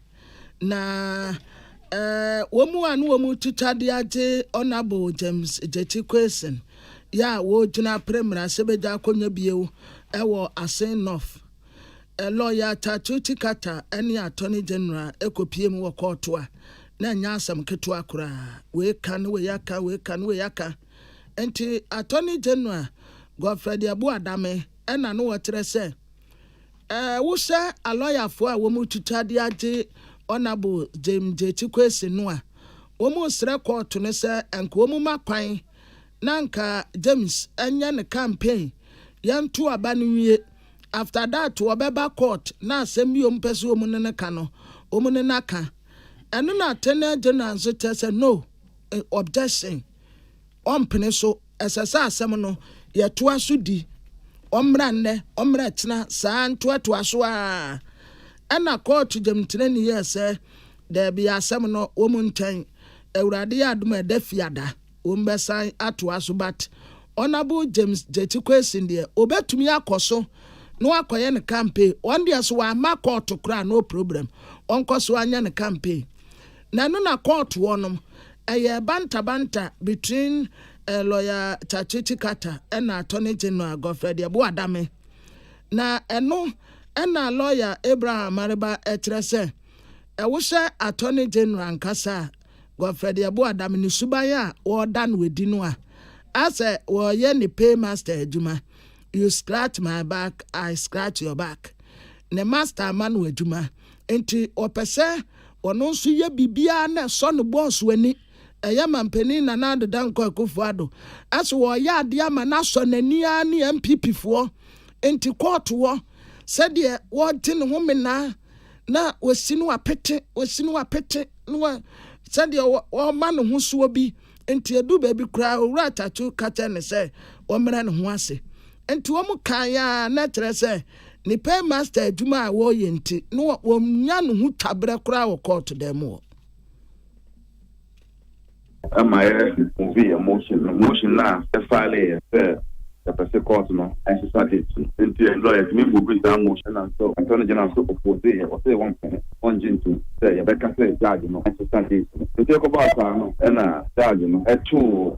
na wɔn a na wɔn twitwa de agye Honourable James Gyekyi Quayson yɛ a wɔgyina pere mmarahyɛbadwa akonnwa bio wɔ Asin North. Lɔya Tatuti Kata ne Attorney General kɔpie mu wɔ kɔɔto a na ɛnyɛ asɛm ketewa koraa. Wei ka ne wei aka, wei ka ne wei aka. Nti Attorney General Godfred Abu Adame na na wɔkyerɛ sɛ Ɛɛ wo hwɛ alɔyafoɔ a wɔn retwitwa de agye Honourable James Gyekye Quayson no a, wɔn resrɛ kɔɔto no sɛ nka wɔn mma kwan na anka James nyɛ ne campaign yɛnto aba no nwie, after that wɔbɛba court na asɛm bi a wɔn pɛ sɛ wɔn ne no ka no wɔn ne no aka. Ɛno na Attorney General nso kyerɛ sɛ no objection. ɔmpene so. Ɛsɛ sɛ asɛm no yɛtoa so di. Ɔmmra nnɛ, ɔmmra akyina, saa ara ntoatoa so ara. Ɛnna kɔɔto gyamtrani yɛɛ sɛ, Dabi, asɛm no, wɔn ntɛn. Awurade yɛ adom a, ɛda Fiada, wɔbɛsan atoa so. But Honourable James Gyekye Quayson deɛ, ɔbɛtumi akɔ so na wakɔyɛ ne campaign. Ɔno deɛ, sɛ wɔamma kɔɔto koraa, no problem. Ɔnkɔ so anyɛ ne campaign. Na ɛno na kɔɔtoɔ nom ɛyɛɛ banta banta between eh, lawyer Tsatsetsi Kata ɛna attorney general Godfred Yeboah Adame. Na ɛno ɛna lawyer Abraham Amareba ɛkyerɛ sɛ ɛwohyɛ attorney general ankasa a Godfred Yeboah Adame ne suban a wɔɔda no ɛdi no a asɛ wɔɔyɛ ne paymaster adwuma you scratch my back I scratch your back ne master ama no adwuma enti ɔpɛ sɛ ɔno nso yɛ biribiara na ɛsɔ ne bɔɔso ani. Ɛyɛ Manpanin Nana Addo Dankwa Akufo-Addo sɛ wɔreyɛ adeɛ ama no asɔ n'ani ara ne NPPfoɔ nti kɔɔto hɔ sɛdeɛ wɔregye ne homenaa na wɔasi no apete, wɔasi no apete na wɔ, sɛdeɛ wɔrema no ho soɔ bi. Enti eduu baabi koraa Owura Tatu ka kyerɛɛ no sɛ ɔmmrɛ ne ho ase. Enti wɔn kaeɛ ara na kyerɛ sɛ ne paymaster adwuma a ɔreyɛ nti na wɔnnya ne ho twa berɛ koraa wɔ kɔɔto dan mu hɔ. Ɛma yɛ revive yɛ motion no, motion no a yɛ file yɛ sɛ. yɛpɛ se kɔɔto no nsesa date no. Enti ɛnde lɔya tumi muvi saa motion no until mpɛ no gyina so opposee yɛ, ɔse wɔmpɛ no, ɔngye ntom sɛ yɛbɛka sɛ judge no nsesa date no. Enti ɛkɔbaa saa no na judge no too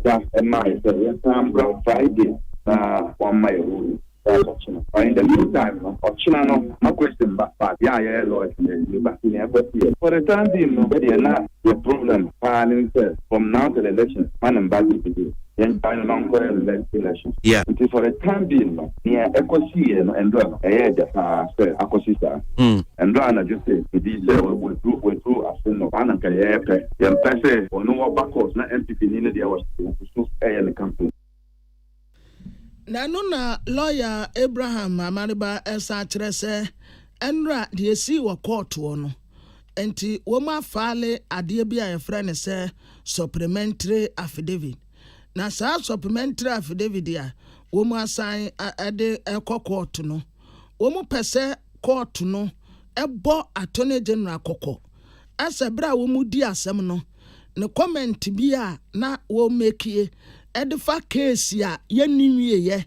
gya maa yɛ sɛ yɛnsan mbra Friday na wɔmma yɛ ruling judge ɔkyena. But in the mean time no, ɔkyena no na question ba but yɛ a yɛyɛ lɔya no yɛnni ba nti nea ɛkɔ siiɛ no. For the time being no, yɛdeɛ na yɛ problem paa ne sɛ from now till elections ma ne mba date bio. Yɛngyae no na ɔnkɔyɛ no next election. Yeah. Nti for the time being no, nea ɛkɔsiiɛ no, Ndra no, ɛyɛɛ dɛ paa sɛ akɔsi saa. Ndra anadwo se biribi sɛ wadu wadu ase no, saa na nka yɛpɛ. Yɛmpɛ sɛ ɔno ɔba court na NPP ni no deɛ ɔhyɛ ɔgu so ɛyɛ ne campaign. Na ɛno na lawyer Abraham Amareba ɛsan kyerɛ sɛ Ndra deɛ esii wɔ court hɔ no, Enti wɔafile adeɛ bi a yɛfrɛ no sɛ supplementary affidavit. Na saa supplementary affidavit a wɔasan de kɔ kɔɔto no, wɔpɛ sɛ kɔɔto no bɔ Attorney General kɔkɔ sɛ berɛ a wɔredi asɛm no, ne comment bi a na wɔmakie de fa case a yɛnni nwieeɛ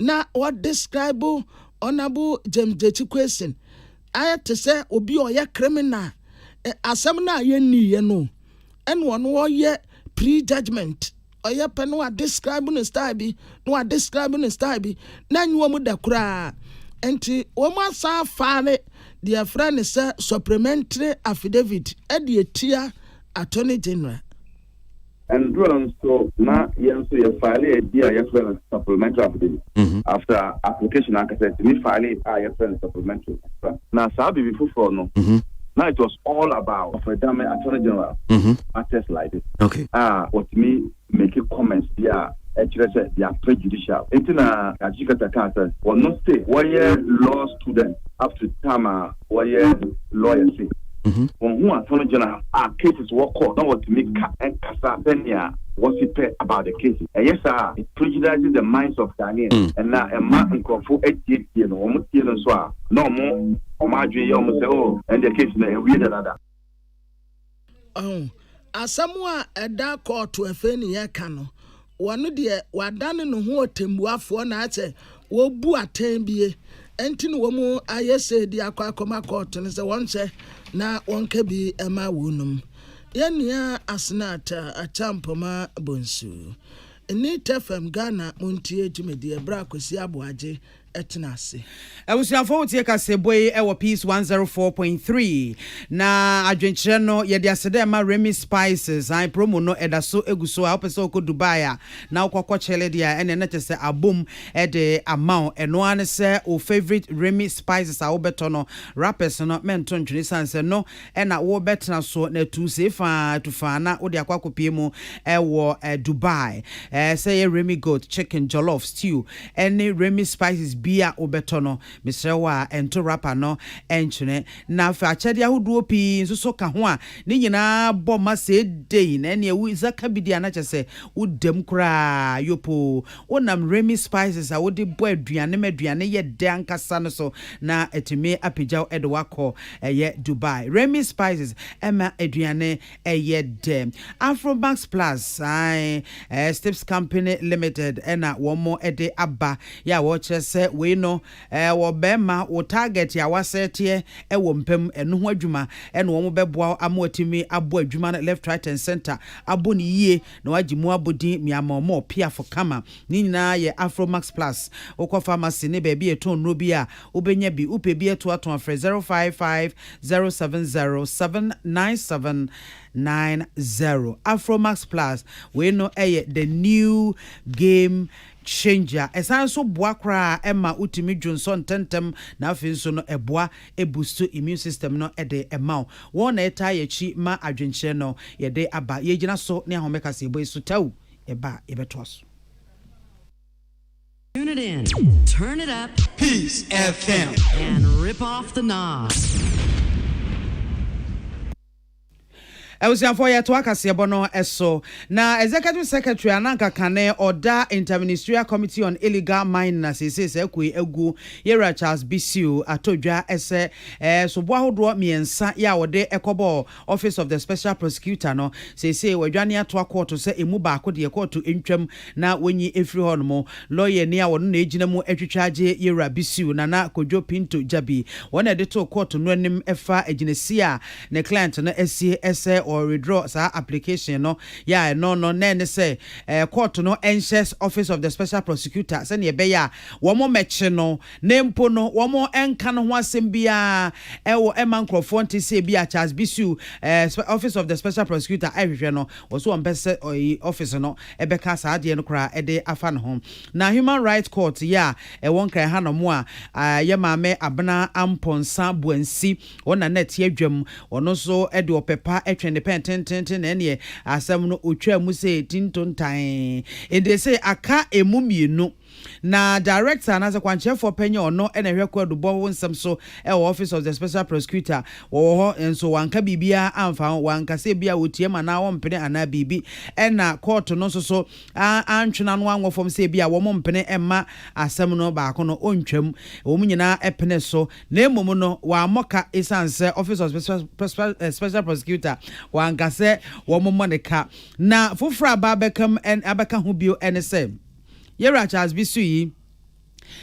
na wɔdescribe Honourable James Gyekyi Quayson Ayɛ te sɛ obi a ɔyɛ criminal. Ɛ, asɛm no a yɛnniiɛ no, ɛna ɔno ɔyɛ pre-judgement. Ɔyɛ pɛ na wadescribe no style bi, na wadescribe no style bi, na ɛnyɛ wɔn da koraa. Enti wɔn asan afile deɛ yɛfrɛ no sɛ supplementary affidavit de atia Attorney General. Ndura nso na yɛn nso yɛ faale ɛdi a yɛfrɛ no supplemental application mhm. after application ankasa ɛtumi faale a yɛfrɛ no supplemental na saa biribi foforɔ no mhm. na it was all about ɔfɛdame attorney general mhm. matters like this okay. a ah, ɔtumi make comments bi a ɛkyerɛ sɛ they are prejudicial nti na akyikata kaa sɛ wɔno sɛ wɔyɛ law student up to time a wɔyɛ lɔya se wɔn ho ato no gyina a cases wɔ court na wɔtumi ka kasa sɛnea wɔsi pɛ about the cases. Ɛyɛ saa a, it prejudices the minds of Ghanaians and na ɛma nkurɔfo atietie no, wɔn tie no nso a na wɔn wɔn adwene yɛ wɔn sɛ oh ɛndeɛ case no awie dadaada. Ɔho asɛm a ɛda kɔɔto afei ne yɛka no, wɔno deɛ wadane ne ho ɔtɛmmuafoɔ na ayɛ sɛ wɔbu atɛn bie nti na wɔn ayɛ sei de akɔ akɔma kɔɔto no sɛ wɔnhyɛ na wɔnka bi ma wɔnom. Yɛn nua Asenat Acheampoma Bonsu ne Tefem Ghana montie dwumadie berɛ a Kwesi Aboagye tena ase. Abusuafo wotie kaseɛbɔ yi wɔ Peace one zero four point three na adwenkyerɛ no yɛde aseda ɛma Remy Spices ae promo no ɛda so egu so a wopɛ sɛ wokɔ Dubai a na wokɔ kɔ kyele deɛ a ɛneɛ na kyɛ sɛ abom de ama wo ɛno ara ne sɛ wo favorite Remy Spices a wobɛtɔ no wrappers no mɛnto ntwene sane sɛ no ɛna wo bɛ tena so na tu see faa tu faa na wo de akɔ akɔ pie mu ɛwɔ ɛ Dubai ɛ sɛ ɛyɛ Remy goat chicken jollof stew ɛne Remy spices bia wo bɛ tɔ no mesrɛ wo a ɛnto wrapper no ɛnkyene na fa akyɛdeɛ ahodoɔ pii nso so ka ho a ne nyinaa bɔ ma seedei na ɛneɛ wo Isa ka bi deɛ a na kyɛ sɛ wo dam koraa yopoo. Wonam Remy Spices a wode bɔ aduane ma aduane yɛ dɛ ankasa no so na atumi apagya wo de wo akɔ ɛyɛ Dubai. Remy Spices ma aduane yɛ dɛ. Afromax Plus, ae, ɛyɛ Stips Company Limited na wɔde aba yɛ a wɔkyerɛ sɛ wei no wɔ bɛma wo target a woasɛɛteɛ wɔ mpa mu. Ɛno ho adwuma na wɔbɛboa wo ama watumi abɔ adwuma no left, right and center, abɔ no yie. Na wagye mu abodin Miamɔmɔ, Piafo, Kama. Ne nyinaa yɛ Afro Max Plus. Wokɔ pharmacy ne baabi a yɛtɔn nnuro bi a, wobɛnya bi. Wopɛ bi atoato a, frɛ 0550707970. Afro Max Plus, wei no yɛ the new game changer. Ɛsan nso boa koraa ma wotumi dwo nsɔ ntɛmntɛm na afei nso no ɛboa ɛbuusto immune system no de ma wo. Wɔn na ɛtaa yɛ akyi ma adwenkyerɛ no. Yɛde aba yɛ gyina so ne ahome kaseɛbɔ yi so tɛw. Yɛba a yɛbɛtoa so. Tune it in, turn it up, Peace FM, and rip off the knob. Abusuafoɔ yɛtoa kaseɛbɔ no so. Na Executive Secretary a na anka kane ɔda Interministerial Committee on Illegal Mining a seesei saa kuo yi agu, Yɛwura Charles Bisiu atɔ dwa sɛ soboɔ ahodoɔ mmiɛnsa yi a wɔde kɔbɔɔ Office of the Special Prosecutor no seesei wɔadwane atoa kɔɔto sɛ ɛmu baako deɛ kɔɔto ntwam na wɔnyi mfiri hɔnom. Lɔyani a ɔno na ɛgyina mu twitwa agye Yɛwura Bisiu, Nana Kojo Pinto Gyabi, wɔn na ɛde too kɔɔto no anim fa agyinasie a ne client no asie sɛ ɔ redraw saa application no, yɛ a ɛno no na ɛne sɛ court no nhyɛs office of the special prosecutor sɛnea ɛbɛyɛ a wɔn mmɛkye no na mpo no wɔn nka no ho asɛm biara ɛwɔ ɛmma nkorɔfoɔ nte sɛ ebi a Charles Bisiw ɛɛ office of the special prosecutor ɛhwehwɛ no wɔ so wɔn mpɛ sɛ ɔyi office no ɛbɛka saa adeɛ no koraa ɛde afa ne ho na human right court yɛ a ɛwɔ nkran ha nom a yɛ maame Abena Amponsah Buansi Wo na na ɛte adwam. Ɔno nso de ɔpɛ pa twɛn ne pɛn tenteenten, na ɛnneɛ asɛm no ɔtwaa mu sɛ tintontan. Ede sei aka ɛmu mmienu. Na Director anaasɛ kwankyerɛfoɔ pɛ nyɛ ɔno na ɛhwɛ kwaadubɔ ho nsɛm so wɔ Office of the Special Prosecutor. Wɔwɔ hɔ nso wɔanka biribiara amfa ho. Wɔanka sɛ ebia ɔtiam anaa ɔmpene anaa biribi. Ɛnna kɔɔto no nso so antwe n'ano anwɔ fam sɛ ebia wɔmpene mma asɛm no baako no ɔntwam. Wɔn nyinaa penee so. Na mmom no, wammɔ ka esiane sɛ Office of Special Prosecutor wanka sɛ wɔmmɔ no ka. Na foforo a aba abɛka mu abɛka ho bio ne sɛ, Yɛwura Charles Bisuyi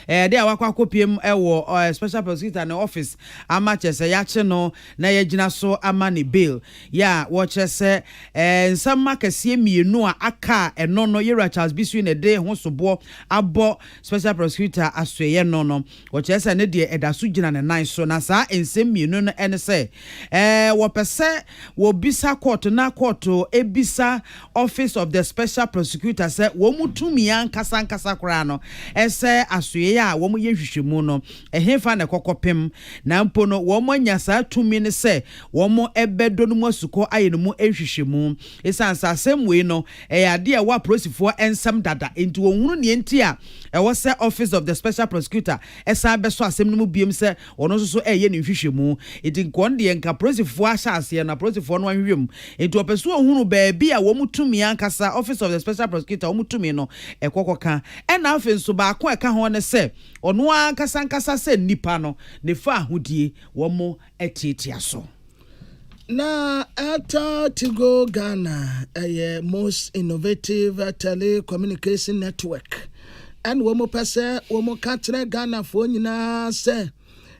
de a wakɔ akɔpue mu wɔ Special Prosecutor no office ama kyerɛ sɛ yɛakye no na yɛagyina so ama ne bail yɛ a wɔkyerɛ sɛ nsɛm akɛseɛ mmienu a aka a ɛno no Yɛwura Charles Bisuyi na ɛde ho soboɔ abɔ Special Prosecutor asoɛeɛ no no Wɔkyerɛ sɛ ne deɛ ɛda so gyina ne nan so, na saa nsɛm mmienu no ne sɛ, ɛɛ, wɔpɛ sɛ wɔbisa kɔɔto na kɔɔto bisa Office of the Special Prosecutor sɛ wɔn tumi ankasa ankasa koraa no, sɛ asoɛe a wɔyɛ nhwehwɛmu no, ɛhefa na ɛkɔ kɔpem, na mpo no wɔanya saa tumi no sɛ wɔbɛdɔ no mu asukɔ ayɛ no mu nhwehwɛmu. Esiane sɛ asɛm wei no yɛ ade a ɛwɔ apolisifoɔ nsam dada nti, wɔnhunu nea enti a ɛwɔ sɛ Office of the Special Prosecutor san bɛsɔ asɛm no mu biom sɛ wɔn nso so reyɛ ne nhwehwɛmu. Enti nka wɔn deɛ nka apolisifoɔ ahyɛ aseɛ no apolisifoɔ no anhwehwɛ mu. Enti wɔpɛ sɛ wɔhunu baabi a wɔn tumi ankasa, Office of the Special Prosecutor, wɔn tumi no kɔ kɔka. Ɛna afei nso baako a ɛka ho ne sɛ ɔno ankasa ankasa sɛ nnipa no, ne faahodie wɔn tiatia so. Na Airtel Tigo Ghana ɛyɛ most innovative telecommunication network ɛna wɔn pɛ sɛ wɔn ka kyerɛ Ghanafoɔ nyinaa sɛ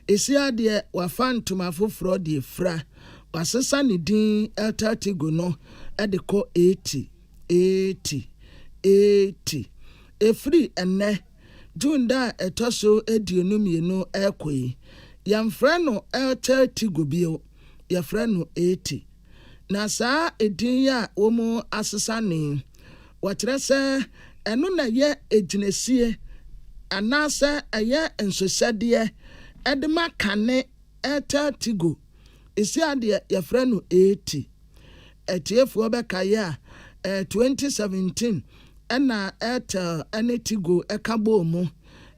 Esia deɛ wafa ntoma foforɔ deɛ fira wasesa ne din Airtel Tigo no ɛde kɔ 80 80 80 ɛfiri ɛnɛ June da a ɛtɔ so aduonu mmienu rekɔ yi, yɛmfrɛ no Elter Tigo bio, yɛfrɛ no Eti. Na saa edin yi a wɔasesa no yi, wɔkyerɛ sɛ ɛno na ɛyɛ agyinasie anaasɛ ɛyɛ nsosɛdeɛ de ma kane Elter Tigo. Sia deɛ yɛfrɛ no Eti. Atiefoɔ bɛkaeɛ a, ɛyɛ 2017 na Airtel ne Tigo ka bɔɔ mu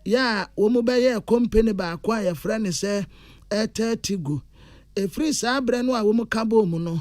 yɛ a wɔbɛyɛɛ kompene baako a yɛfrɛ no sɛ Airtel Tigo. Ɛfiri saa berɛ no a wɔka bɔɔ mu no,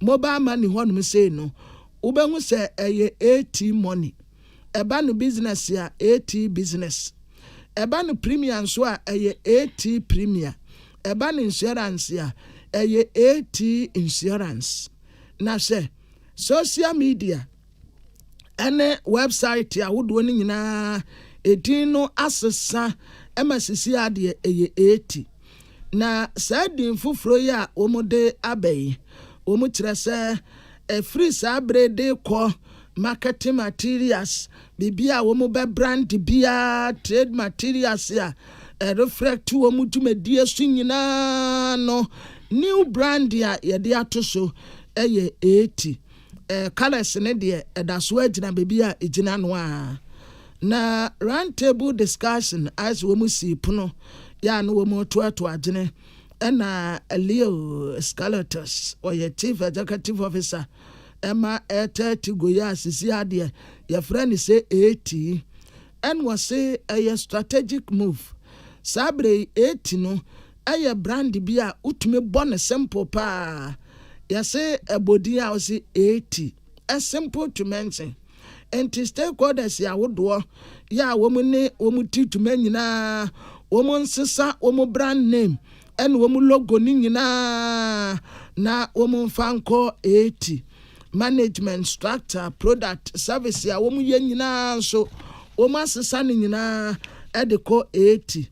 Mobile money hɔnom sei no, wobɛhu sɛ ɛyɛ AT money. Ɛba no business a, AT business. Ɛba no premier nso a, ɛyɛ AT premier. Ɛba no insurance a, ɛyɛ AT insurance. Na hwɛ, social media. ne wɛbsaete ahodoɔ no nyinaa edin no asesa ma sisi a deɛ ɛyɛ eeti. Na saa din foforɔ yi a wɔde aba yi, wɔkyerɛ sɛ ɛfiri saa bere de rekɔ marketing materials, biribi a wɔbɛbrand biara, trade materials a ɛrefrɛkte wɔn dwumadie so nyinaa no, new brand a yɛde ato so yɛ eeti. Eh, colours no deɛ ɛda so ara gyina baabi a ɛgyina no ara. Na round table discussion ayɛ sɛ wɔn sii pono yɛ a na wɔn retoatoa adwene ɛna Leo Scalatos, ɔyɛ Chief Executive Officer ɛma Air Thirty go yi a sisi adeɛ yɛfrɛ no sɛ AT ɛna ɔse ɛyɛ strategic move saa berɛ yi AT no Ɛyɛ brand bi a wotumi bɔ no simple paa. Yɛse ɛbɔ din a wose eeti, ɛ simple to mention. Nti stakeholders yi ahodoɔ yɛ a wɔn ne wɔn ti dwuma nyinaa, wɔn nsesa wɔn brand name ɛne wɔn logo no nyinaa na wɔn mfa nkɔ eeti. Management, structure, product, service a wɔn yɛ nyinaa nso wɔn asesa no nyinaa ɛde kɔ eeti.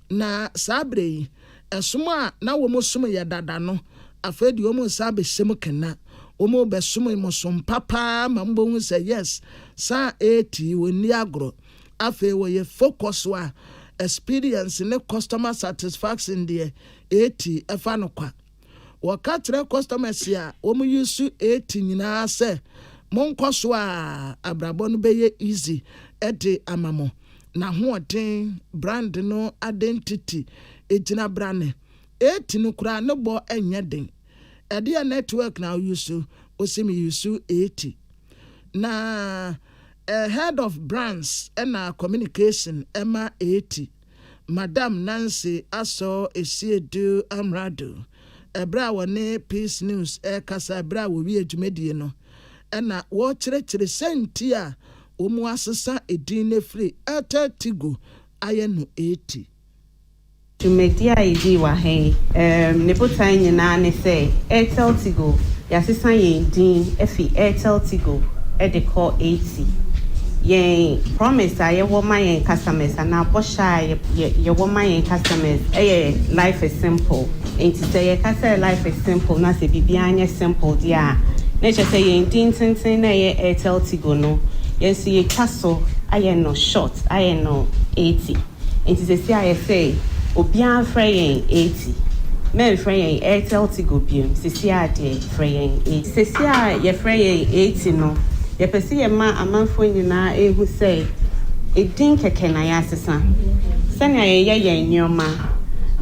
Na saa berɛ yi, ɛsom a na wɔn som yɛ dada no, afei deɛ wɔn nsa abɛhyɛ mu kena, wɔn rebɛsom mo som pa paa ma mobɛhu sɛ yes, saa a ɛretii, wɔnni agorɔ. Afei wɔyɛ focus a experience ne customer satisfaction deɛ ɛretii, ɛfa no kwa. Wɔka kyerɛ kɔstɔmɛs a wɔn use ate nyinaa sɛ monkɔ so a abrabɔ no bɛyɛ easy de ama mo. N'ahoɔden, brand no adentiti, gyinabra ne ate no koraa ne bɔ nyɛ den. Ɛdeɛn network na wo use? Ose me use ate. Na head of brands na communication ma ate. Madam Nancy Asor Asiedu Amrado bere a wɔne Peace News rekasa bere a wɔwiee dwumadie no na wɔrekyerɛkyerɛ sɛn nti a wɔasesa edin no afiri Airtel Tigo ayɛ no Airti. Dwumadie a yɛdii wɔ ha yi, ne botae nyinaa ne sɛ Airtel Tigo, yɛasesa yɛn din afi Airtel Tigo de kɔ Airti. si. Yɛn promise a yɛwɔ ma yɛn customers anaa bɔhyɛ a yɛ yɛwɔ ma yɛn customers yɛ life is simple. Nti sɛ yɛka sɛ life is simple na sɛ biribiara nyɛ simple deɛ a, na ɛkyerɛ sɛ yɛn din tenten na ɛyɛ Airtel Tigo no, yɛn nso yɛatwa so ayɛ no short, ayɛ no 80. Nti sɛsi ayɛ sɛ obiaa mfrɛ yɛn Airti mɛmfrɛ yɛn Airtel Tigo biom sɛsi a deɛ frɛ yɛn Airti. Sɛsi a yɛfrɛ yɛn Airti no yɛpɛ sɛ yɛma amanfoɔ nyinaa ɛhu sɛ ɛdin kɛkɛ na yɛasesa sɛnea yɛyɛ yɛn nneɛma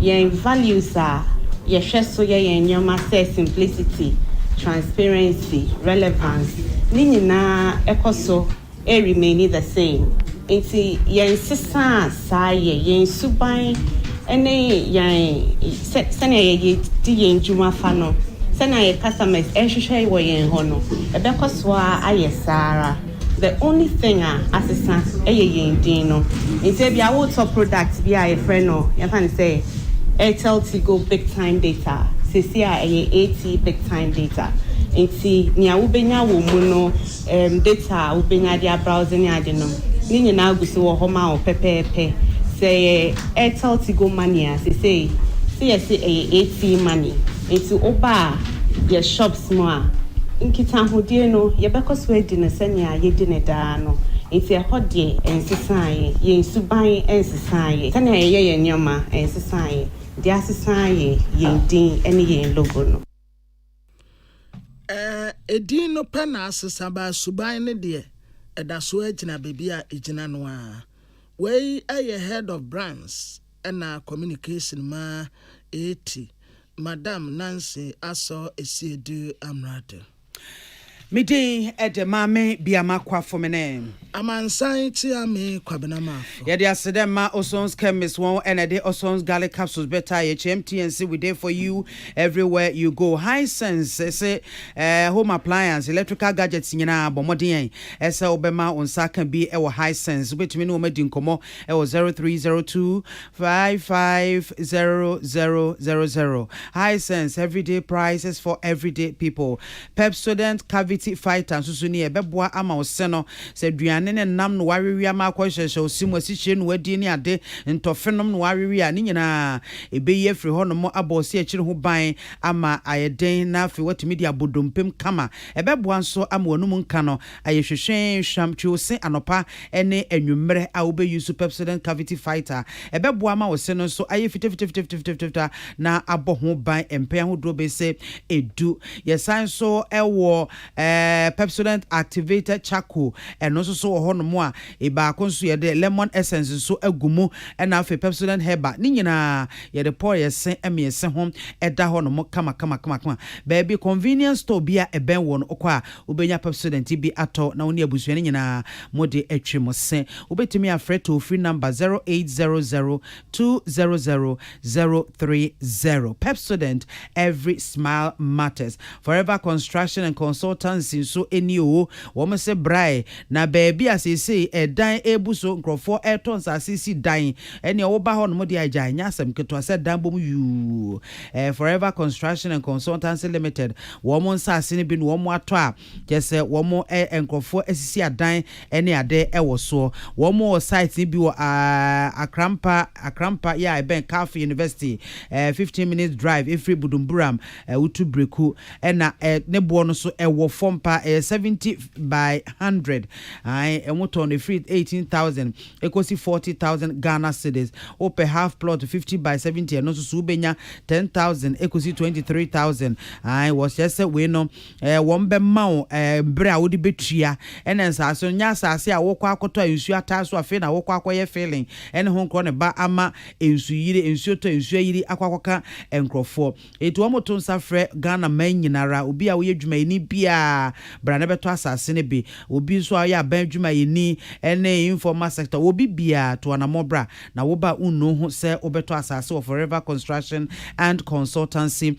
yɛn values a yɛhwɛ so yɛ yɛn nneɛma sɛ simplicity, transparency, relevance ne nyinaa ɛkɔ so Ɛ remaini the same nti yɛn sesaa saa yɛ yɛn suban ne yɛn sɛ sɛnea yɛ yɛ di yɛn dwuma fa no sɛnea yɛ customers ɛhwehwɛ wɔ yɛn hɔ no ɛbɛkɔ so ara ayɛ saa ara the only thing a asesa ɛyɛ yɛn din no nti ebia wotɔ product bi a yɛfrɛ no yɛmfa no sɛ Airtel Tigo big time data sɛsi a ɛyɛ AT big time data nti nea wobɛnya wɔ mu no Erm data a wobenya de abrowse ne ade nom, ne nyinaa gu so wɔ hɔ ma wo pɛpɛɛpɛ. Sɛ ɛyɛ Airtel Tigo Money a, sesei se yɛse ɛyɛ ATM Money. Enti woba a yɛ shops mu a, nkitahodie no yɛbɛkɔ so adi no sɛnea yɛdi no daa no. Enti ɛhɔ deɛ ɛnsesaeɛ, yɛn suban ɛnsesaeɛ, sɛnea yɛyɛ yɛn nneɛma ɛnsesaeɛ. Deɛ asesa ara yɛ yɛn din ne yɛn logo no. Edin no pɛ na asesa baa suban no deɛ, ɛda so ara gyina baabi a ɛgyina no ara. Wei yɛ Head of Brands ɛna Communication ma Eeti, Madam Nancy Asor Asiedu Amrado. Me din de Maame Biama Kwafomene. Amansan kyea me Kwabena Marko. Yɛde aseda ma Oson's Chemist wɔn na ɛde Oson's Garlic Capsules bɛtaa yɛ. Kyɛm TNC we dey for you everywhere you go. Hisense se eh, home appliance, electrical gadgets nyinaa bɔ mmɔden ɛ eh, sɛ wobɛma wo nsa aka bi wɔ Hisense. Wobɛtumi ne wɔn adi nkɔmmɔ wɔ 0302 550000. Hisense, everyday prices for everyday people. Pepsodent Cavity Fighter nso so ni, ɛbɛboa ama wo se no, sɛ aduane ne nam na woawewe ama akɔ hyerɛhyerɛ wo se mu, asikyire na woadi ne ade, ntɔfe nom na woawewe a, ne nyinaa ɛbɛyi afiri hɔnom abɔ ɔse akyiri ho ban ama ayɛ den na afei woatumi de abɔ dompem kama. Ɛbɛboa nso ama w'anom nka no ayɛ hwehwee. Hwam, twe wo se anɔpa ne anwummerɛ a wobɛyi nso Pepsodent Cavity Fighter. Ɛbɛboa ama wo se no nso ayɛ fitafitafitafitafitafita na abɔ ho ban mpɛn ahodoɔ bɛse du. Yɛsan nso wɔ Pepsodent Activated Charcoal, ɛno nso so wɔ hɔnom a baako nso yɛde lemon essence nso agu mu ɛna afei Pepsodent Herbal, ne nyinaa yɛde pɔɔyɛse mmiɛse ho ɛda hɔnom kamakamakama. Baabi convenience store bi a ɛbɛn woɔ no wokɔ a wobɛnya Pepsodent yi bi atɔ na wo ne abusua no nyinaa mode atwi mo se. Wobɛtumi afrɛ toll free number zero eight zero zero two zero zero zero three zero Pepsodent every smile matters Forever construction and consultancy nso ni oo wɔn se brae na baabi a seesei ɛdan rebu so nkurɔfoɔ retɔ nsase si dan ɛneɛ woba hɔ nom deɛ a gyae nyɛ asɛm ketewa sɛ dan bom yuu ɛɛ Forever construction and consultancy limited wɔn nsase no bi na wɔn atɔ a Kyerɛ sɛ wɔn ɛɛ nkorɔfoɔ asisi adan ɛne ade ɛwɔ soɔ. Wɔn wɔ site no bi wɔ aah Akrampa Akrampa yɛ a ɛbɛn Calf University ɛɛ fifteen minutes drive ɛfiri Budumburam ɛɛ wotu Breku ɛna ɛ ne boɔ no so ɛwɔ fam paa ɛyɛ seventy by hundred ae wɔn tɔn no ɛfiri eighteen thousand ɛkɔsi forty thousand Ghana cedis. Wo pɛ half plot fifty by seventy ɛno nso so wo bɛnya ten thousand ɛkɔsi twenty three thousand ae wɔkyerɛ sɛ wei no Ɛɛ, wɔbɛma wo, ɛɛ, bere a wode betua. Ɛnna nsaase no nyɛ asaase a wokɔ akɔtɔ a nsu ataa so afei na wokɔ akɔyɛ filling ne ho nkorɔ no ba ama nsuyiri, nsuo tɔ, nsuo ayiri akɔ akɔka nkurɔfoɔ. Enti wɔto nsa frɛ Ghana man nyina ara, obi a woyɛ dwumayɛni biara, bra na bɛtɔ asaase no bi. Obi nso a ɔyɛ aban adwumayɛni ne informal sector, obi biara, to anammɔn bra na wo ba nnuu ho sɛ wobɛtɔ asaase wɔ Forever Construction and Consultancy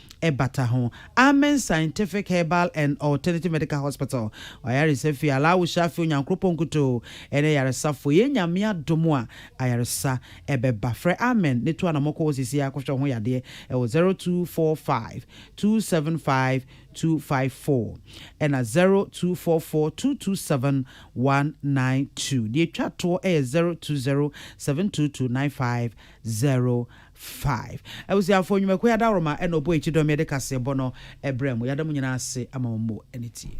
ɛbata ho. Amen Scientific Herbal and Alternative Medical Hospital, W'ayaresa fie, Allahu Shafi, Onyankropɔn nkutoo ne ayaresafoɔ, yɛn Nyame adom a ayaresa bɛba. Frɛ Amen ne tu anamɔ kɔ hɔ seesei ara kɔhwɛ wo ho yadeɛ wɔ 0245 275 254 ɛna 0244 227 192. Deɛ ɛtwa toɔ yɛ 0207229509. Five. Abusuafoɔ, nnwumakuo yi adaworoma na ɔbɔ akyi dɔm yi de kaseɛbɔ no brɛ mo. Yɛada mo nyinaa ase ama mo ani tie.